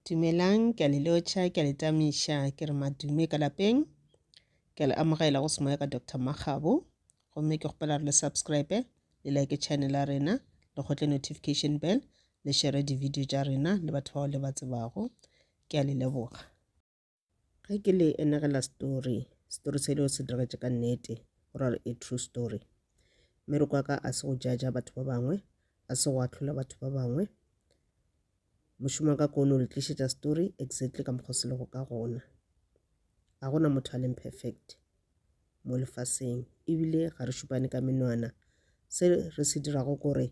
Dumelang, ke a le lotšha, ke a le tamiša, ke re madume ka lapeng. Ke a le amogela go semoya ka Doctor Makgabo. Gomme ke kgopela re le subscribe, le like channel ya rena, le kgotle notification bell, le share di-video tša rena le batho bao le ba tsebago. Ke a le leboga. Ge ke le enegela story, story selo se diregetše ka nnete, go ra gore a true story. Mmereko wa ka a se go jaja batho ba bangwe, a se go ahlola batho ba bangwe. Mošomo wa ka ke o no le tlišetša story exactly ka mokgwa o se lego ka gona. Ga gona motho a leng perfect, mo lefaseng ebile ga re šupane ka menwana se re se dirago kore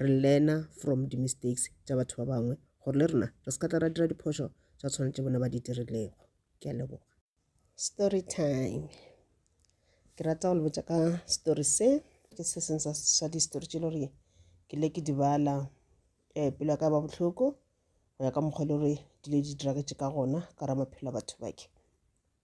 re learner from the mistakes tša batho ba bangwe gore le rena re se ka tla ra dira diphošo tša tshwana tše bona ba di dirilego ke a leboga story time ke rata go le botša ka story se ke se seng sa di-story tše le gore ke le ke di bala um pelo ya ka ba bohloko go ya ka mokgwa e le gore dilo di diragetše ka gona ka ra maphelo a batho bake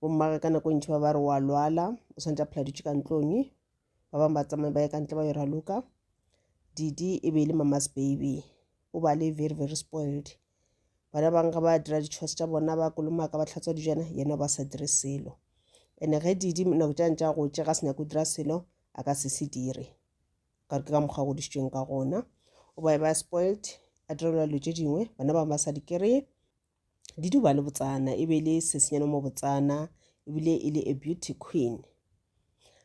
bommage ka nako ntši ba ba re wa lwala o swanetše a phela dutše ka ntlong ba bangwe ba tsamaye ba ye ka ntle ba yo raloka didi e be e le mama's baby o ba le very very spoiled bana bangwe ga ba dira di-chores tša bona ba kolomaka ba tlhatswa dijana yena ba sa dire selo ene ge didi nako tša ntša go tše ga se nyako dira selo a ka se se dire ka ke ka mokgwa godisitsweng ka gona o ba e ba spoiled a direlwa dilo tše dingwe bana bangwe ba sa di kry-e Diduba le Botsana e be e le sesenyane mo Botsana ebile e le a beauty queen.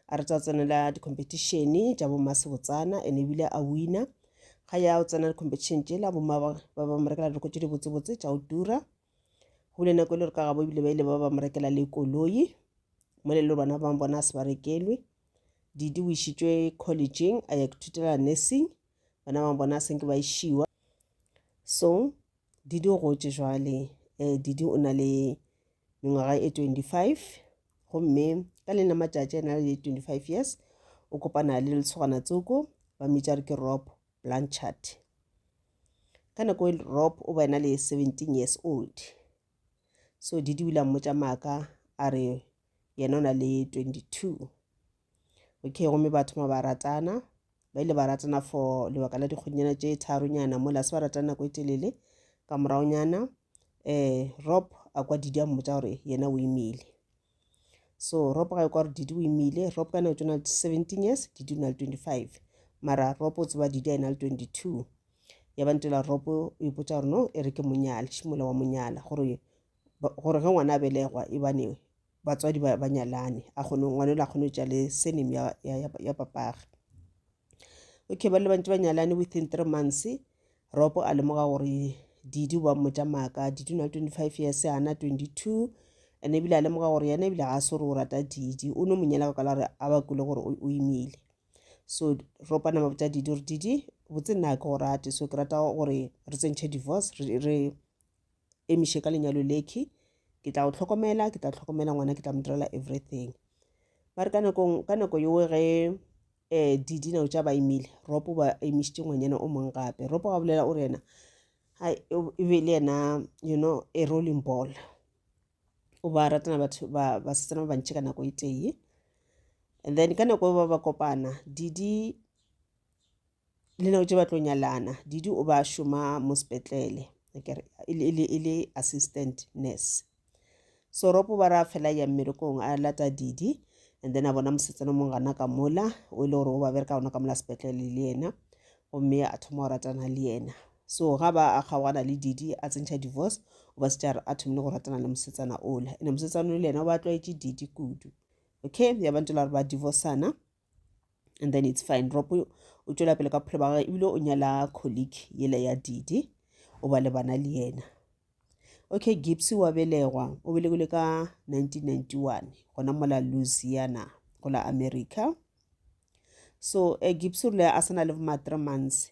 A re tsa tsenela di-competition tša bomma Sebotsana and ebile a wina ga ya o tsena di-competition tšela bomma ba ba ba mo rekela dilo tše dibotsebotse tša o tura go bile nako e le gore ka gabo ebile ba ile ba ba mo rekela le koloi mo le le bana ba bona a se ba rekelwe didi o išitšwe collegeng a ya ithutela nursing bana ba bona a senke ba išiwa so Didi o gotše jwale eh, Didi o na le mengwaga e 25 gomme ka le na matšatši a na le 25 years o kopana le letshogana tsoko ba mmitša re ke rob blanchard ka nako e rob o ba ena le 17 years old so didi o ile a mmotša maaka a re yena o na le 22 okay gomme ba thoma ba ratana ba ile ba ratana for lebaka la dikgonyana tše tharonyana mola se ba ratana nako e telele ka moraonyana um eh, rob a kwa didi a mmotsa gore yena o imile so rob ga e kwa gore didi o imile rob ka nako tsona le seventeen years didi o na le twenty-five mara rob o tseba didi a ena le twenty-two ya ba ntela rob o ipotsa gore no e re ke monyale šimola wa monyala gore gore ge ngwana a belegwa e bane batswadi ba, ba nyalane a kgone ngwana o le a kgone go tša le surname ya, ya, ya, ya papage okay ba le bantši ba nyalane within three months ropo a lemoga gore didi ba mmotša maaka didi o na le twenty five years ana twenty two and ebile a lemoga gore yena ebile ga a se gore o rata didi o no monyela ka kala gore a ba kule gore o imile so ropa nama botša didi gore didi botse nna ke go rate so ke rata gore re tsentšhe divorce re, re emiše ka lenyalo lekhwi ke tla go tlhokomela ke tla tlhokomela ngwana ke tla mo direla everything ba re ka nakong ka nako yowe ge um eh, di dinao tša ba imile ropo ba emišitše ngwanyana o mong gape ropo ga bolela o re yena e be le yena you know a rolling ball o ba ratana batho ba basetsana ba bantši ka nako e tee and then ka nako ba ba kopana didi le nako tše ba tlo nyalana didi o ba šoma mo sepetlele e le assistant nurse so ropo ba ra fela ya mmerekong a lata didi and then a bona mosetsana mong gana ka mola o e le gore o ba bereka gona ka mola sepetlele le yena gomme a thoma go ratana le yena so ga ba a kgaogana le didi a tsentšha divorce o ba se tša a thomile go ratana le mosetsana ola ene mosetsana o le yena o ba tlwaetše didi kudu okay ya ba ntse le gore ba divorcana and then it's fine rob o tšwela pele ka bophelo ba gage ebile o nyala colleague yele ya didi o ba le bana le yena okay gibbs wa belegwa o belegile ka 1991 gona mola louisiana go la america so uh, gibbs o rile a sa na le ma-three months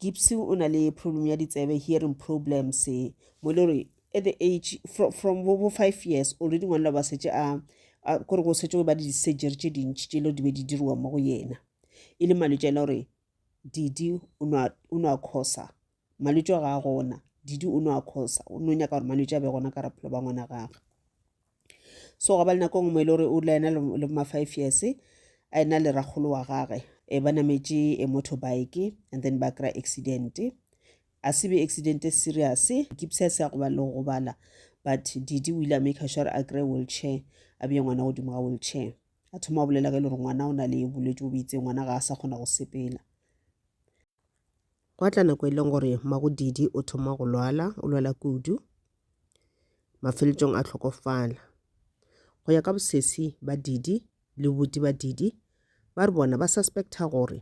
Gibsy o na le problem ya ditsebe, hearing problems. Mo le gore at the age from, from bo, bo five years already ngwanela ba setse a kore go setse go ba di-surgery tše dintši tše le di be di diriwa mo go yena e le malwetse a e le gore didi o no a khosa malwetse a ga a gona didi o no a khosa o no nyaka gore malwetse a be gona ka raphelo ba ngwana gage so ga ba le nako ngwe e le gore o dula ena le ma five years a ena le rakgolo wa gage e ba nametše e motorbike and then ba kry accident a se be accident e serious kipsa se ya go ba le go gobala but didi o ile a make sure a kry wheelchair a bee ngwana godimo ga wheelchair a thoma go bolela ka e le gore ngwana o na le bolwetse bo beitseng ngwana ga a sa kgona go sepela Gwa tla nako e leng gore Magodiidi o thoma go lwala, o lwala kudu, mafeletšong a hlokofala. Go ya ka bosesi ba Diidi le bobuti ba Diidi, ba re bona ba suspecta gore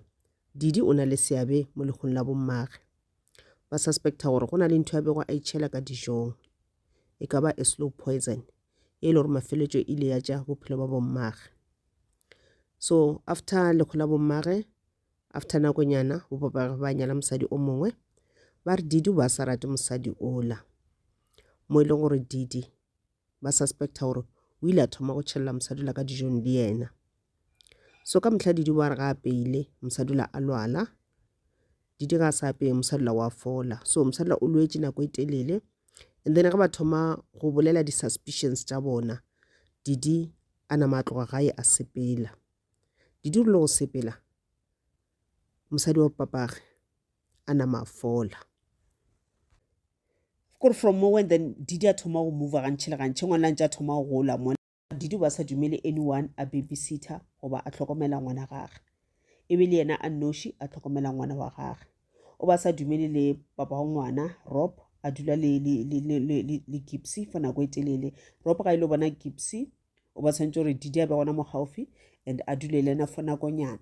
Diidi o na le seabe mo lehung la bommage. Ba suspecta gore go na le ntho ya bego a itšhela ka dijong, e ka ba a slow poison, e le gore mafeletšo ile ya tša bophelo ba bommage. So after lehu la bommage, After nakonyana bo papagwe ba nyala mosadi o mongwe ba re Didi ba sa rate mosadi ola mo e leng gore Didi ba suspecta gore o ile a thoma go tšhelela mosadi ola ka dijong le yena so ka motlha Didi ba re ga apeile mosadi ola a lwala Didi ga a sa apeye mosadi ola wa fola so mosadi ola o lwetse nako e telele and then ge ba thoma go bolela di-suspicions tša bona Didi a nama a tloga gae a sepela Didi o rile go sepela mosadi wa papage a nama a fola kore from mo when then didi a thoma go mova gantšhe le gantšhe ngwana ntse a thoma go gola mona didi ba sa dumele anyone a babysitter goba a tlhokomela ngwana gage e be le yena a noši a tlhokomela ngwana wa gage o ba sa dumele le papa wa ngwana rob a dula le gipsy for nako e telele rob ga e le bona gipsy o ba tshwanetse gore didi a be gona mo gaufi and a dule le ena for nakonyana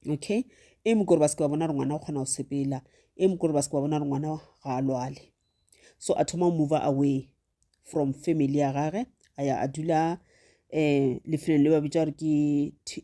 okay e mo kore ba seke ba bona gore ngwana o kgona go sepela e mo kore ba seke ba bona gore ngwana ga a lwale so a thoma go mover away from family ya gage a ya a dula um lefelong le ba bitsa gore ke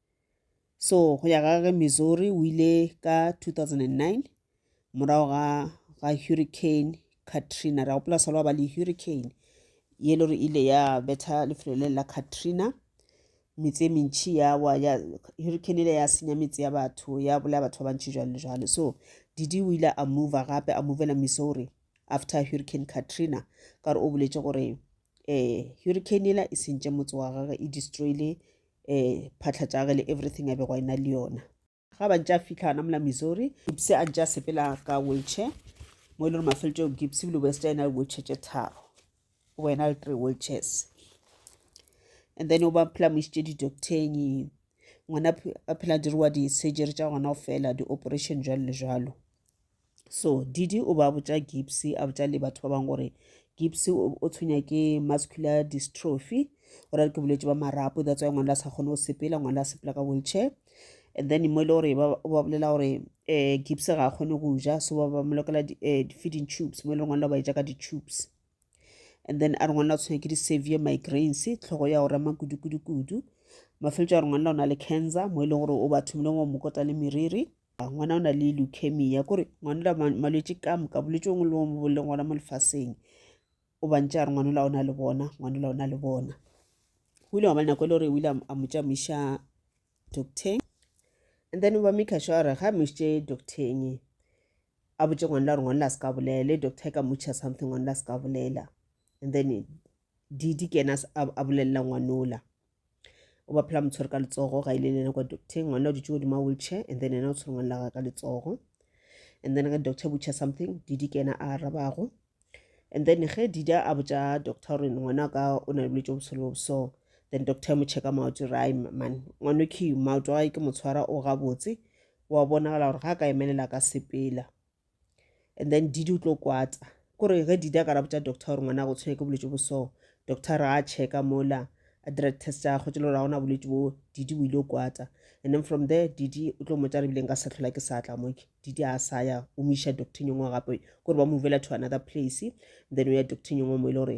So go ya ga ge Missouri o ile ka 2009 morago ga ga hurricane Katrina ra gopola salo ba le hurricane ye le gore ile ya betha lefelo le la Katrina metse mentši ya wa ya hurricane ile ya senya metse ya batho ya bolaya batho ba bantši jalo jalo so didi o ile a move gape a movela Missouri after hurricane Katrina ka gore o boletše gore eh hurricane ela e sentše motse wa gagwe e destroyile um phatlha tša ge le everything a bego a ena le yona ga ba ntse a fitlha ana mola missouri gibse a ntse a sepela ka wheelchair mo e le gore mafelelo tšeo gibse bile west a ena le wheelchair tše tharo o ba ena le three wheelchairs and then o ba phela mo isitše di-docteng ngwana a phela diriwa di-surgery tša gona go fela di-operation jalo le jalo so didi o ba botša gipsy a botša le batho ba bangwe gore gipsy o tshwenya ke muscular dystrophy o rare ke bolwetse ba marapo that's why ngwana a sa kgone go sepela ngwana a sepela ka wheelchair and then mo e le gore ba bolela gore um eh, gipsy ga a kgone go ja so ba ba molokela eh, di-feeding tubes mo e le gore ngwana ba e ja ka di-tubes and then a re ngwana o tshwenya ke di-severe migraines tlhogo ya go rema kudu-kudu-kudu mafeletso a re ngwana o na le cancer mo e leng gore o ba thomile go mokota le meriri A ngwana o na le leukemia kore ngwana la malwetse ka moka bolwetse o ngwe le o leng gona mo lefaseng o bantse a re ngwana la o na le bona ngwana la o na le bona o ile wa ba nako e le gore o ile a mo tšamoiša docteng and then ba maker sure gore ga mošitše docteng a botse ngwana la gore ngwana la se ka bolela le doctor e ka motšha something ngwana la se ka bolela and then di di kena a bolelela ngwanola o ba phela motshwere ka letsogo ga ile le ena kwa docteng ngwana o dutse godimo a wheelchair and then ena o tshwere ngwana laga ka letsogo and then ge doctor butcha something didi ke ena a arabago and then ge dida a botša doctor gore ngwana ka o na le bolwetse bo solo so then doctor mo checka maoto ra man ngwana ke maoto a ke motshwara o gabotse wa bonagala gore ga ka emelela ka sepela and then didi o tlo kwata kore ge didi a ka ra botša doctor gore ngwana go tshwenya ke bolwetse bo so doctor a checka mola a dira test ya gagwe tšelo gore ga gona bolwetse bo didi o ile o kwata and then from there didi o tlo motša re bileng ka sehlola ke sa tla mo didi a sa ya o mo iša doctor nyongwe gape kore ba movela to another place then o ya doctor nyongwe mo e le gore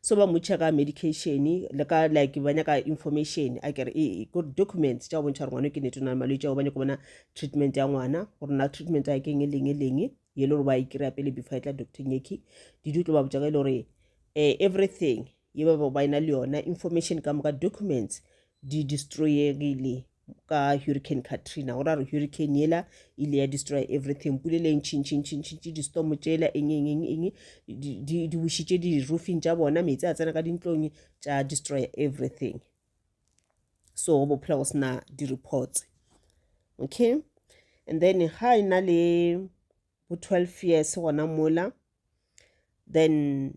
so ba motšha ka medication le ka like ba nyaka information a kere ee ko documents tša go bontšha gore ngwana ke nete o na le malwetse ao ba nyako bona treatment ya ngwana gore na treatment ya keng e leng e leng ye le gore ba e kry-a pele before e tla doctor nyeki didi o tlo ba botsa ka e le gore um everything ye ba ba e na le yona information ka moka documents di destroyegile ka hurricane katrina go ra re hurricane yela e ile ya destroy everything pule e le ntšhintšhintšhintšhintšhe distomo tšela eng eng eng eng di bušitše di-roofing tša bona metsi a tsena ka dintlong tša destroy everything so go bophela go sena di-reports okay and then ga e na le bo twelve years gona mola then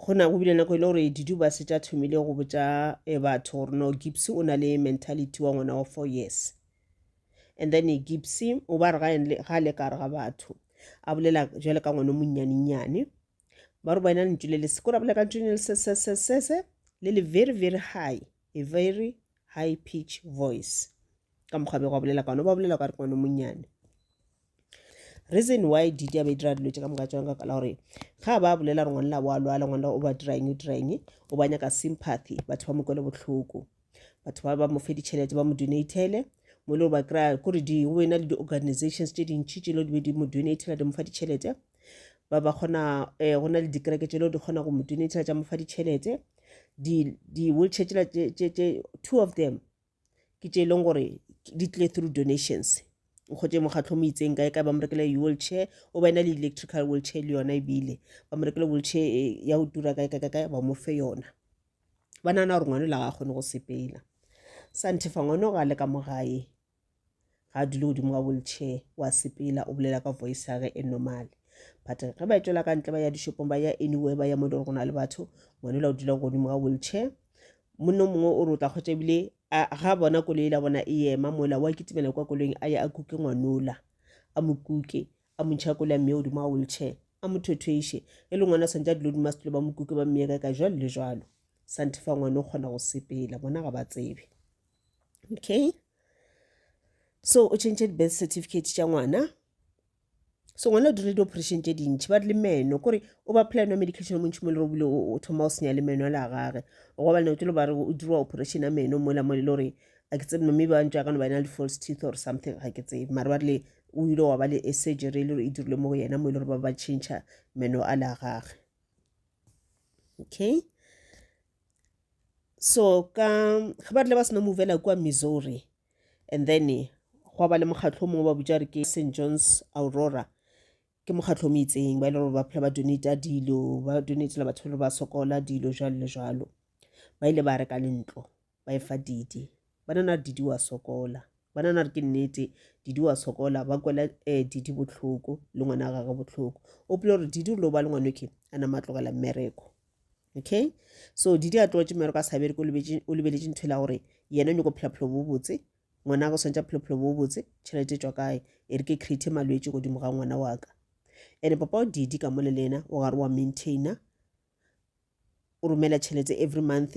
go na go bile nako e le gore didu ba se tša thomile go botša eh, batho gore no gipsy o na le mentality wa ngwana wa four years and then gipsy o ba re ga en- ga le ka re ga batho a bolela jale ka ngwana o monnyanenyane ba re ba ena lentšu le le se ko ra bolela ka lentšu le le se se se se se le le very very high a very high pitch voice ka mokgwa bego a bolela ka one ba bolela ka re kwane monnyane reason why didi a ba dira dilo tse ka moka tsona ka la gore ga ba bolela re ngwanela wa lwala ngwanela o ba dirang o dirang o ba nyaka sympathy batho ba mo kwele botlhoko batho ba ba mo fe ditšhelete ba mo donatele mo le ba kry-a kore di o ena le di-organizations tse dintšhi tse le di be di mo donatela di mo fa ditšhelete ba ba kgona um go na le dikereke tše leo di kgona go mo donatela tša mo fa ditšhelete di-wheelchair tsela tše two of them ke tše e leng gore di tlile through donations nkgotse mokgatlho mo itseng kae kae ba mo rekele wheelchair o ba ena le electrical wheelchair le yona ebile ba mo rekele wheelchair eh, ya go tura kae kae kae ba mo fe yona ba nana gore ngwane la ga a kgone go sepela santhe fa ngwane o ga le ka mo gae ga a dule godimo ga wheelchair wa sepela o bolela ka voice ya ge e normal but ge ba etšwela ka ntle ba ya dishopong ba ya anywhere ba ya mo e le gore go na le batho ngwane la o dula godimo ga wheelchair monno mongwe o re o tla kgwetsa ebile ga bona koloi la bona e ema mola wa kitimela kwa koloing a ya a kuke ngwanola a mo kuke a montšha ya koloi a mmeye godimo ga wheelchair a mo thothweiše e le ngwana swantse a dilo dima setulo ba mo kuke ba mmeye ka ka jalo le jalo santhe fa ngwane o kgona go sepela bona ga ba tsebe okay so o tšhentšhe di-birth certificate tša ngwana so ngwana o dirile di-operation tše dintšhi ba re le meno kore o ba plan wa medication o montšhi mo le robile o thoma o senya le meno a le a gage gobane o tlo ba re o dirwa operation ya meno mola mo le gore a ke tsebe mme ba ntšwa kana ba ena le false teeth or something ga ke tsebe mare ba rile o ile wa ba le e surgery e le gore e dirile mo go yena mo e le gore ba ba change meno a le a gage okay so ka ge ba rile ba sena movela kua missouri and then gwa ba le mokgatlho mongwe ba butša re ke st johns aurora ke mokgatlho o meitseng ba e le gore ba phela ba donata dilo ba donatela batho ba le ba sokola dilo jalo le jalo ba ile ba reka le ntlo ba efa didi ba nana re didi wa sokola ba nana re ke nnete didi wa sokola ba kwela um didi botlhoko le ngwana gage botlhoko o pele gore didi o lo ba le ngwanoke a nama tlogela mmereko okay so didi a tlotše mero ka sabere ko o lebeletše ntho e la gore yena o nyako phelaphelo bo botse ngwana go swantša phelaphelo bo botse tšhelete tswa kae e re ke create malwetse godimo ga ngwana wa ka and papa o didi ka mole le ena o gare wa maintainer o romela tšhelete every month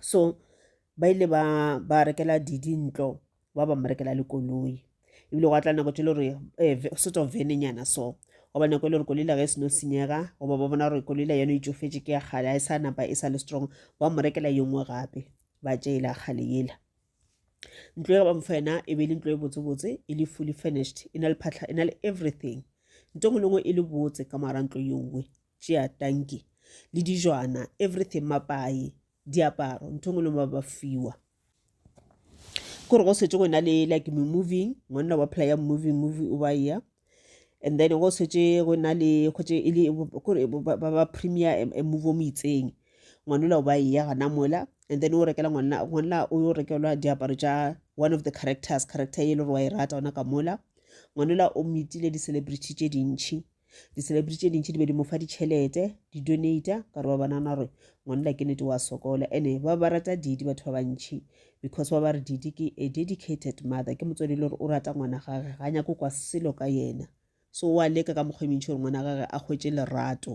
so ba ile ba ba rekela didi ntlo ba ba mrekela le koloi ebile go tla nako tse le gore eh, sort of venenyana so goba nako e le gore koloi la ge e seno senyega goba ba bona gore koloi la yone e tsofetse ke ya kgale ga e sa napa e sa le strong ba mo rekela ye nngwe gape ba tšeela kgale yela ntlo ya ba mfa yena e be e le ntlo e botsebotse e le fully furnished e na le phatlha e na le everything nto ngwe le ngwe e le botse ka mara ntlo ye nngwe tšea tanki le dijwana everything mapai diaparo ntho e ngwe le ba ba fiwa ke gore go swetse go na le like me moving monna wa playa moving movie o ba ya and then go swetse go na le kgotse e le kore ba ba premier a move o mo itseng ngwanola o ba ya gana mola and then o rekela ngwana ngwana o yo rekelwa diaparo tša one of the characters character e le gore wa e rata ona ka mola ngwanola o metile di-celebrity tše dintšhi Di-celebrity tše dintši di be di mo fa ditšhelete, di-donata, ka gore ba bonana gore ngwanela ke nete wa sokola. Ene ba ba rata Didi batho ba bantšhi because ba ba re Didi ke a dedicated mother, ke motswadi le gore o rata ngwana gage, ga nyako kwa selo ka yena. So wa leka ka mokgwa e mentši gore ngwana gage a hwetše lerato.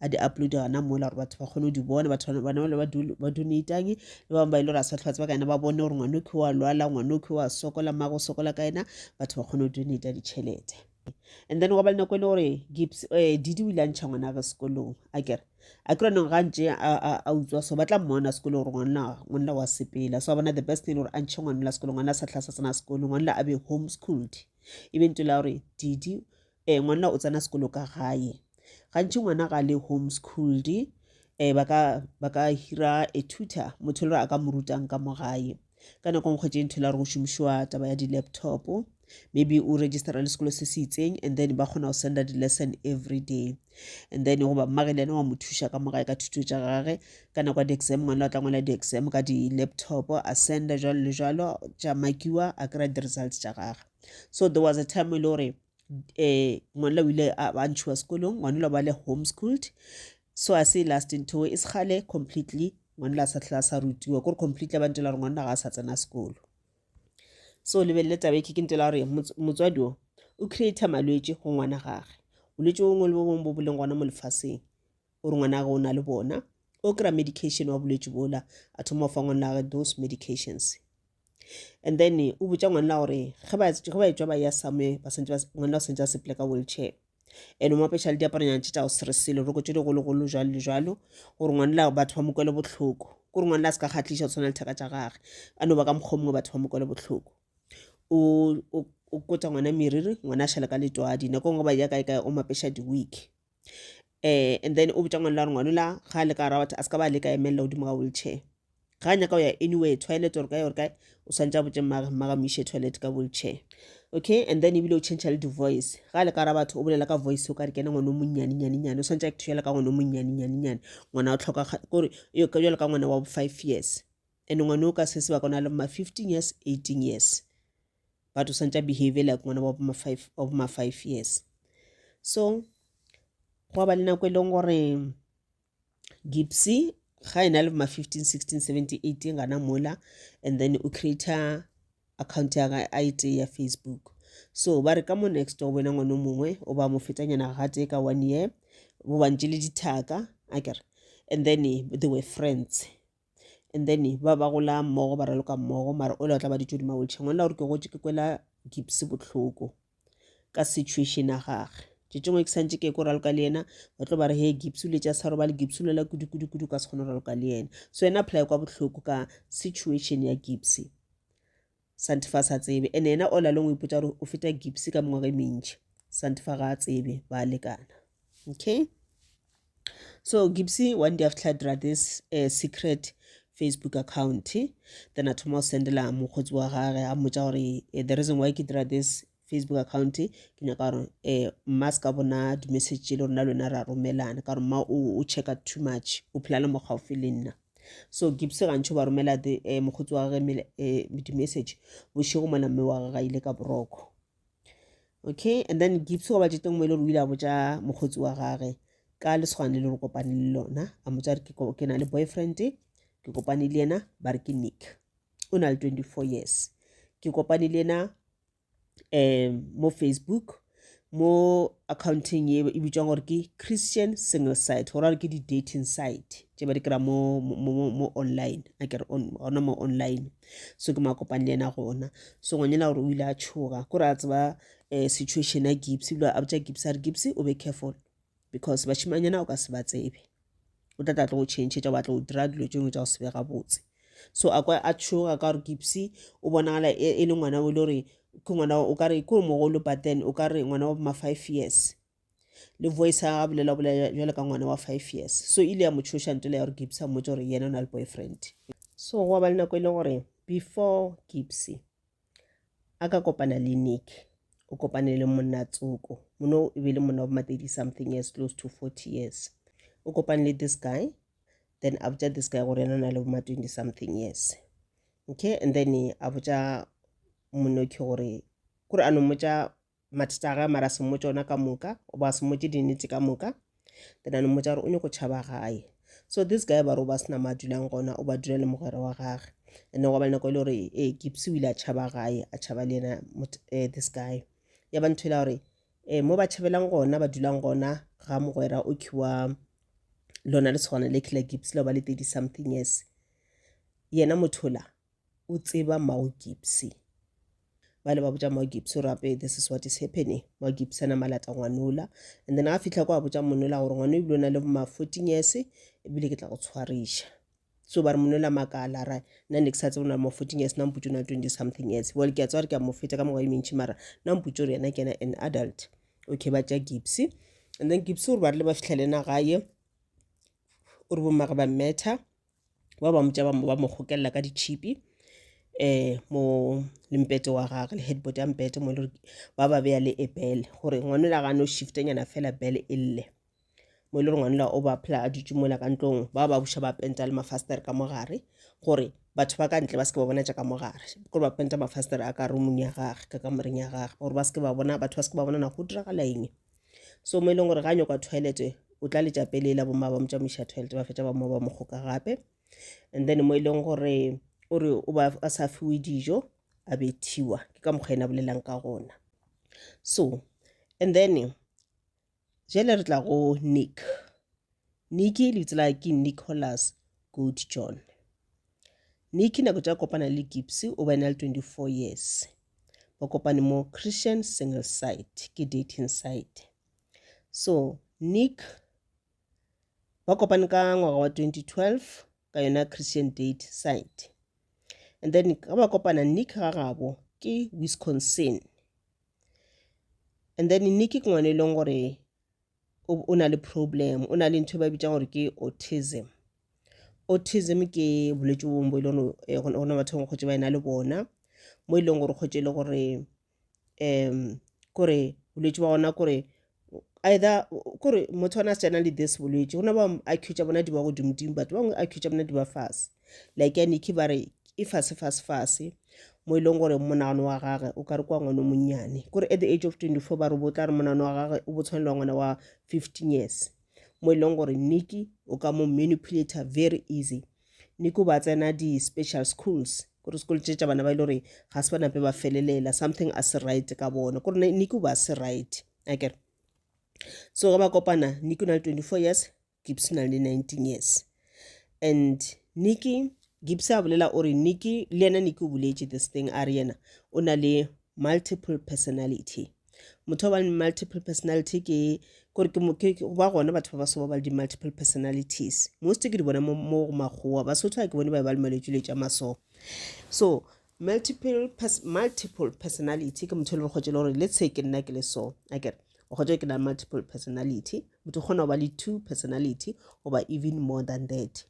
a di uploade gona mola gore batho ba kgone go di bona batho bana bale ba donatang le bangwe ba ile gore a sa tlhwatseba ka ena ba bone gore ngwane oke wa lwala ngwane oke wa sokola mmago sokola ka ena batho ba kgone go donata ditšhelete and then wa ba le nako e le gore gips um eh, didi o ile a ntšha ngwana ge sekolong a kere a kry nong gantše a utswa so ba tla mmona sekolo gore ngwanna ngwanna wa sepela so a bona the best thing gore a ntšhe ngwanna sekolo ngwanna a sa tlhasa tsena sekolo ngwanna a be homeschooled e be nto la gore didi um ngwanna o tsena sekolo ka gae gantši ngwana ga le home schooled um ba ka ba ka hira a tutor motho le gore a ka mo rutang ka mo gae ka nako ngwe kgwetše ntho e la gore go šomišwa taba ya di-laptop maybe o registera le sekolo se se itseng and then ba kgona go senda di-lesson every day and then goba mmage le ena wa mo thuša ka mo gae ka thuto tša gage ka nako ya di-exam ngwana o tla ngwala di-exam ka di-laptop a senda jalo le jalo tša makiwa a kry-a di-results tša gage so there was a time e le gore um ngwanela o ile a ba ntshiwa sekolong ngwanela ba le homeschooled so a se last ntho e segale completely ngwanela a sa tlhela sa rutiwa kore completely ba ntela gore ngwanela ga a sa tsena sekolo so lebelele taba eke ke ntela gore motswadi o o creator malwetse go ngwana gage bolwetse bongwe le bo bongwe bo bo leng gona mo lefaseng o re ngwana gage o na le bona o kry-a medication wa bolwetse bola a thoma go fa ngwana gage those medications and then o botša ngwanela gore ge ba etswa ba ya somewhere ba santse ngwanela o santse a sepele ka wheelchair and o mo apeša le diaparonyana tše tša go seresele roko tše digologolo jalo le jalo gore ngwanela batho ba mo kwele bohloko kore ngwanela a se ka kgatlhiša go tshwana letheka tša gage a no ba ka mokgwa mongwe batho ba mo kwele bohloko o kotsa ngwana meriri ngwana a šhala ka letwadi nako nngwe ba ya kae kae o mapeša di-week eh and then o botša ngwana la gore ngwana la ga a le ka rawat a se ka ba le ka emelela godimo ga wheelchair ga a nyaka go ya anywhere toilet or kae or kae o swantse a botse mmaga mmaga mo ishe toilet ka wheelchair okay and then ebile o change le di-voice ga a le ka ra batho o bolela ka voice o ka re kene ngwana o monnyane nyane nyane o swantse a ketho jalo ka ngwana o monnyane nyane nyane ngwana o tlhoka kore yo ka jalo ka ngwana wa bo five years And ngwana o ka se sebaka o na le ma 15 years, 18 years. But o santša behave like ngwana wa boma 5 wa boma 5 years. So go ba le nako e leng gore Gipsy ga ena le ma 15, 16, 17, 18 gana mola and then o creator account ya ga a ite ya Facebook. So ba re ka mo next o bona ngwana mongwe o ba mo fetanyana ga tse ka one year bo bantše le dithaka akere and then they were friends and then ba ba gola mmogo ba raloka mmogo mara o le o tla ba ditso di maweltšhe ngwana gore ke gotse ke kwela gips botlhoko ka situation ya gage tše tšengwe ke santse ke ko raloka le yena ba tlo ba re he gips le tša sa robale gips lela kudukudukudu ka se kgone go raloka le yena so yena apply kwa botlhoko ka situation ya gips Santifa a sa tsebe, ene yena all along o ipotsa gore o feta Gipsy ka mengwaga e mentši. Santifa ga a tsebe, ba a lekana. Okay? So Gipsy one day after dira this uh, secret facebook account then a thoma go sendela mokgotsi wa gage a mmotsa gore eh, the reason why ke dira this Facebook account ke nyaka gore eh mma se ka bona di-message tše le rona le wena ra romelana ka gore mma o checka too much o phela le mo gaufi le nna so gibse gantšho ba romela the eh, mokgotsi wa gage eh, di-message bošego mona mme wa gage ga ile ka boroko okay and then gibse go batšeteng mo e le gore o ile a botša mokgotsi wa gage ka lesogane le le re kopane le lona a motsa re ke na le boyfriend ke kopane le yena ba re ke nick o na le 24 years ke kopane le yena um mo facebook mo accounting ye e bitšwa gore ke christian single site go ra ke di-dating site tše ba di kry mo, mo, mo, mo online a kere gona mo online so ke makopane le yena gona so ngwanyana gore o ile a tšhoga kore a tseba um situation ya gibs ebile a botša gibs a re gibs o be careful because bašimanyana o ka se ba tsebe o tla tla tlo go changetša wa tlo dira dilo tšengwe tša go se be gabotse so a kwa a tšhoga ka gore gipsy o bonagala e, e le ngwana o le gore ke ngwana o ka re ke o mogolo but then o ka re ngwana wa ma five years le voice a bolela bolela jwale ka ngwana wa five years so ile ya mo tshoša ntele ya gore gipsy a mmotse gore yena o na le boyfriend so go ba le nako e le gore before gipsy a ka kopana le nick o kopane le monna tsoko mono e be le monna wa matedi something years close to 40 years o kopane le this guy then a botša this guy gore ena na le boma 20 something years okay and then a botša monokhi gore kore a no mmotša mathata a gae mara se mmotse ona ka moka oba se mmotse dinete ka moka then a no mmotsa gore o nyoko tšhaba gae so this guy ba re o ba sena ma dulang gona o ba dula le mogwera wa gage and go ba le nako e le gore e eh, gipsy o ile a tšhaba gae a tšhaba le ena eh, this guy ya ba ntho e la gore um mo ba tšhabelang gona ba dulang gona ga mogwera o khiwa lona le tshwana le killer gipsy la ba le thirty something years yena mothola o tseba mao gipsy ba le ba botša mao gipsy gore ape this is what is happening mao gipsy ana malata ngwanola and then a fitlha kwa a botša monola gore ngwana ebile o na le ma fourteen years ebile ke tla go tshwariša so ba re monola makala ra nna ne ke sa tsebo na mo fourteen years namputse o na twenty something years well ke a tswa re ke a mo feta ka mengwa e mentšhi mara namputse gore yena ke ena an adult okay ba tša gipsy and then gipsy gore ba rile ba fitlhelena gaye o re bomage ba mmetha ba ba motša ba mo gokelela ka ditšhipi um mo le mpete wa gage le headboard ya mpete mo e le gore ba ba beya le e bele gore ngwanela ga no shiftenyana fela bele e lle mo e le gore ngwanela o ba phela a dutse mola ka ntlong ba ba buša ba penta le mafasetere ka mogare gore batho ba ka ntle ba seke ba bona jaaka mogare gore ba penta mafasetere a ka rumong ya gage ka kamoreng ya gage gore ba seke ba bona batho ba seke ba bona na go diragala eng so mo e leng gore ga nyakwa toilet o tla letša pele la bomma ba mo tšamoiša toilet ba fetša ba mo ba mo kgoka gape and then mo e leng gore o re o ba a sa fiwe dijo a bethiwa ke ka mokgwa ena bolelang ka gona so and then jale re tla go nick nicky lebitso la ke nicholas good john Nicky nako tša kopana le Gibbs o ba ena le 24 years. Ba kopane mo Christian single site ke dating site. So Nick ba kopane ka ngwaga wa 2012 ka yona Christian date site. And then ka ba kopana Nick ga gabo ke Wisconsin. And then Nicky ke ngwana e leng gore o, o na le problem o na le ntho e ba bitšang gore ke autism autism ke bolwetse bongwe bo e leng gore eh, gona gona batho bangwe kgotse ba ena le bona mo e leng gore kgotse e le gore um kore bolwetse ba gona kore either kore motho ona a se tšana le this bolwetse gona ba accuse bona di ba godimodimo batho bangwe accuse bona di ba fase like nicky ba re e fase fase fase mo e leng gore monagano wa gage o ka re kwa ngwana o monnyane kore at the age of 24 ba re bo tla re monagano wa gage o bo tshwanelwa ngwana wa 15 years mo e leng gore nicky o ka mo manipulator very easy nicky o ba tsena di-special schools gore sekolo tse tša bana ba e le gore ga se banape ba felelela something a se right ka bona gore nicky o ba se right akere so ge ba kopana nicky o na le 24 years Gibbs na le 19 years and Nikki Gibbs a bolela o re Nikki le yena Nikki o boletše this thing a re yena o na le multiple personality motho wa multiple personality ke gore ke moke ba gona batho ba ba soba ba le di-multiple personalities most ke di bona mo go makgowa basotho ga ke bone ba ba le malwetsi le tša maso so Multiple, pers multiple personality ke motho e le gore kgotse le gore le tshe ke nna ke le so a kere o kgotse ke na multiple personality motho kgona go ba le two personality goba even more than that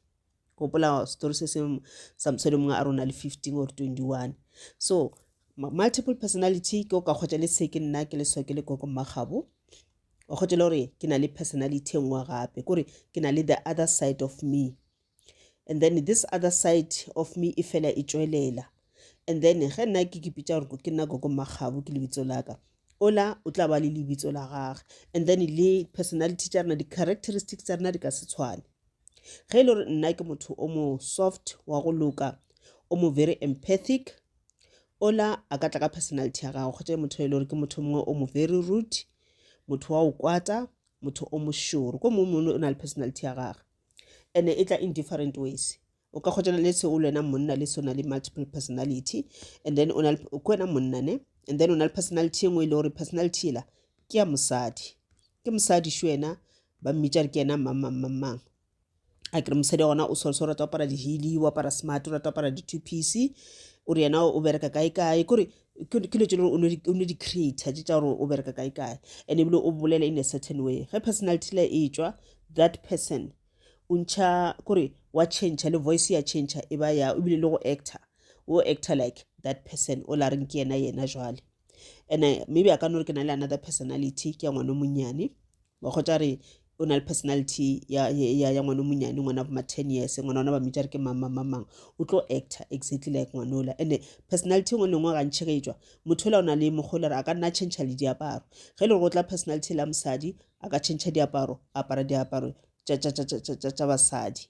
gopola story se seng samsone mongwe a rona le fifteen or twenty one so multiple personality ke o ka kgotsa le tshe ke nna ke le so ke le koko mmagabo o kgotse le gore ke na le personality e nngwe gape kore ke na le the other side of me and then this other side of me e fela e tšwelela and then ge nna ke ke pitša gore ke nna gogo makgabo ke lebitso la ka ola o tla ba le lebitso la gage and then le personality tša rena di-characteristics tša rena di ka se tshwane ge e le gore nna ke motho o mo soft wa go loka o mo very empathic ola a ka tla ka personality ya gagwe kgotsa motho e le gore ke motho mongwe o mo very rude motho wa o kwata motho o mošoro ko mongwe mone o na le personality ya gagwe ene e tla in different ways o ka kgotšana le se o le wena monna le sona le multiple personality and then o na ke wena monna ne and then o na le personality e nngwe e le gore personality ela ke ya mosadi ke mosadi šo ena ba mmitša re ke ena mang mang mang mang a kere mosadi gona o swarso o rata go apara dihili o apara smart o rata go apara di-two piece o re yena o bereka kae kae kore ke dilo tse o no di-creator tse tsa gore o bereka kae kae and ebile o bolela in a certain way ge personality le e tswa that person o ntšha kore wa change le voice ya change e ba ya ebile le go actor o actor like that person o la reng ke yena yena jwale and maybe a ka no re ke na le another personality ke ya ngwana monyane Mokgotša re o na le personality ya ya ya ngwana monyane ngwana ba ma 10 years ngwana ona ba mmitša re ke mang mang mang o tlo actor exactly like ngwanola and personality ngwe lengwe ga ntšhe ka etswa motho ola o na le mokgwa le re a ka nna change le diaparo ge le go tla personality la mosadi a ka change diaparo apara diaparo tša tša tša tša tša basadi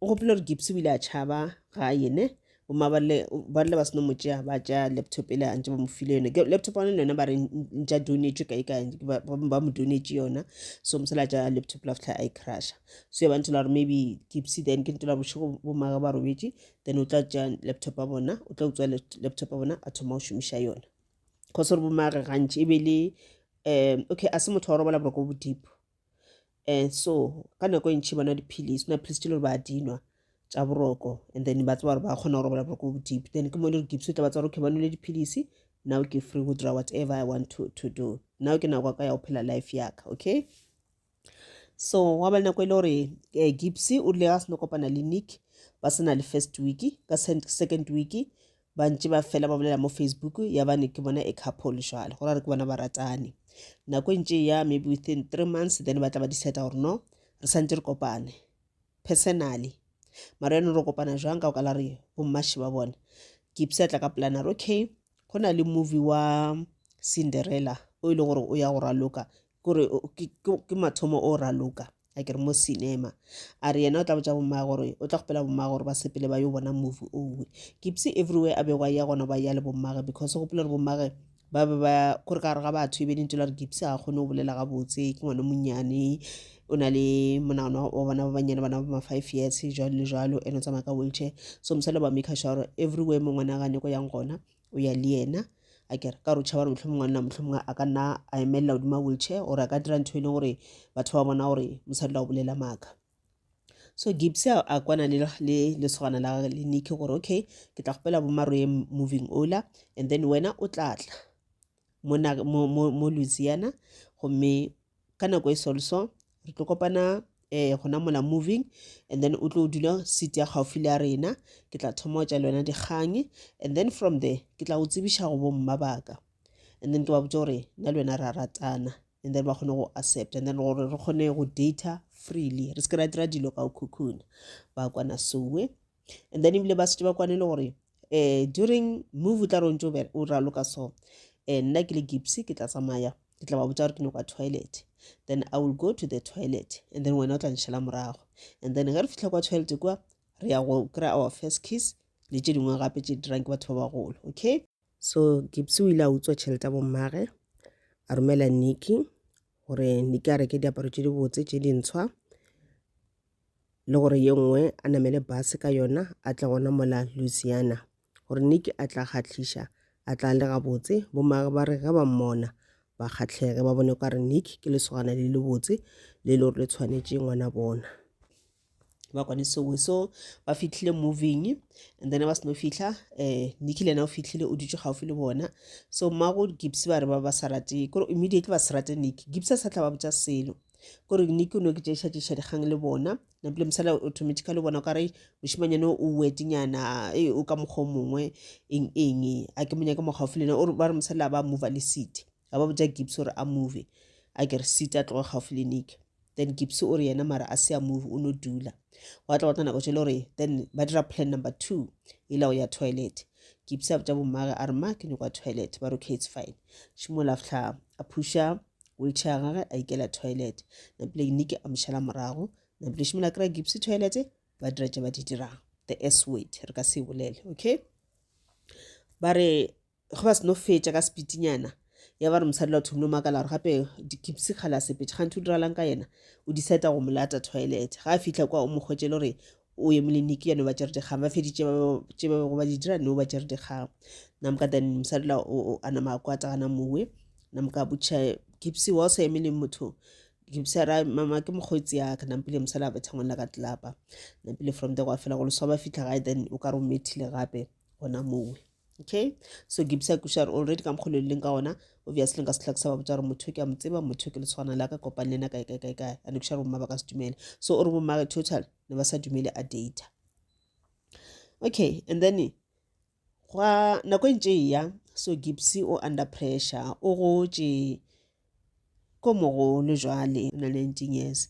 o gopile gore gipsy o ile a tšhaba ga yene bomaballe ba rile ba seno mo tšea ba tšea laptop ele a ntse ba mo file yone Ke- laptop one le yone ba re ntša donetšwe kae kae ba ba- ba mo donetše yona so mosela a tša laptop la fitlha a e crusha so ya ba ntola gore maybe gipsy then ke ntola bošego bomaga ba robetše then o tla tša laptop a bona o tla utswa lap- laptop a bona a thoma go šomiša yona cause gore bomage gantši e be le um okay a se motho wa go robala boroko bo deep um so ka nako e ntšhi bona dipilisi go na pilisi tse le gore ba di nwa tša boroko and then ba tseba gore ba kgona go robala boroko bo deep then ke mo le gore gipso tla ba tseba gore okay ba nwele dipilisi now ke free go dira whatever i want to, to do now ke nako ka ya go phela life yaka okay so wa ba le nako e le gore um eh, gipsy o rile ga se no kopana le nick ba sena le first week ka second week ba ntše ba fela ba bolela mo facebook ya bane ke bona e couple jwale go ra re ke bona ba ratane nako e ntše ya maybe within three months then ba tla ba decide gore no re santse re kopane personally mara yone re kopana jwang ka go kala re bommashe ba bona kipse a tla ka polana re okay go na le movie wa cinderella o e leng gore o ya go raloka kore ke mathomo o raloka a ke re mo cinema a re yena o tla botsa bommae gore o tla gopela bommae gore ba sepele ba yo bona movie owe kipse everywhere a bego a ya gona ba ya le bommage because gopela gore bommage ba be ba kore ka gare ga batho e be lentse la re kipse ga kgone go bolela gabotse ke ngwana monnyane o na le monagano wa bona ba bannyane bana ba ma-five years jalo le jalo and o tsamaya ka wheelchair so mosadi ba make sure everywhere mo ngwana gane ko yang gona o ya le yena a kere ka gore o tšhaba gore mohlomongwe ngwanna mohlomongwe a ka nna a emelela godimo a wheelchair gore a ka dira ntho e leng gore batho ba bona gore mosadi la go bolela maaka so gibs a kwana le lesogana la gage le niki gore okay ke tla gopela bomaroye moving ola and then wena o tlatla mo louisiana gomme ka nako e solso re tlo kopana eh gona mola moving and then o tlo dula seat ya gaufi le ya rena ke tla thoma o tša le wena dikgang and then from there ke tla go tsebiša go bomma baka and then ke ba botse gore nna le wena ra ratana and then ba kgone go accept and then gore re kgone go data freely re se ke ra dira dilo ka o cocoon ba kwana soe and then ebile ba setse ba kwane le gore um during move o tla re o ntse o raloka so um nna ke le gipsy ke tla tsamaya ke tla ba botsa gore ke nyaka toilet then i will go to the toilet and then wena o tla nšhela morago and then ge re fitlha kwa toilet kwa re ya go kry our first kiss le tše dingwe gape tše dirang ke batho ba bagolo okay so gipsy o ile a utswa tšhelete ya bommage a romela nicky gore nicky a reke diaparo tše dibotse tše dintshwa le gore ye nngwe a namele base ka yona a tle gona mola Louisiana gore Nicky a tla kgahliša a tla le gabotse bomage ba re ge ba mmona ba kgahlege ba bone ka re Nicky ke lesogana le le botse le le gore le tshwanetše ngwana bona ba kwane sengwe so ba fitlhile moving and then ba seno fitlha um Nicky le ena o fitlhile o dutše gaufi le bona so mmago Gibbs ba re ba ba sa rate kore immediately ba se rate Nicky Gibbs a sa tla ba botša selo kore ne ke no ke tšešatšiša dikgang le bona napile mosala automatically o bona o kare mošimanyane o wedinyana e o ka mokgwa o mongwe eng eng a ke monyake mo gaufi lena ba re mosala ba mova le city ga ba botsa gibbs gore a move a ke re city a tloga gaufi le nike then gibbs o re yena mara a se a move o no dula wa tla batla nako tšele gore then ba dira plan number two e la go ya toilet gibbs a botsa bommage a re ma ke nyoko ya toilet ba re okay it's fine šimola fihla a phusha wheelchair gage a ikela toilet napile nike a mošala morago napile šimola kry gipsy toilet ba dira tše ba di dirang the s word re ka se e bolele okay ba re ge ba seno fetša ka sepitinyana ya ba re mosadi la thomile makala gore gape dikipsy kgala sepetše gantho o diralang ka yena o diseta go molata toilet ga a fitlha kwa o mokgwetsele gore o emile niki ya no ba tšere dikgang ba feditše ba ba- tše ba bego ba di dira no ba tšere dikgang namka then mosadi la o o- a nama a kwata gana mowe namka a botšiša gipsy wa o sa emele motho gipsy a ra mama ke mokgotsi yaka nampile mosadi a betha ngwana ka tlelapa nampile from there gwa fela go leswa ba fitlha gae then o ka re o methile gape gona mowe okay so ke bisa kuša re already ka mokgolo leng ka ona obviously nka setlha ke sa ba botsa gore motho ke a mo tseba motho ke le tshwana la ka kopane le ena kae kae kae kae ane kuša re bomma ba ka se dumele so o re bomma ka total ne ba sa dumele a data okay and then gwa nako e ntse e ya so gibsy o under pressure o gotše ko mogolo jwale na le 19 years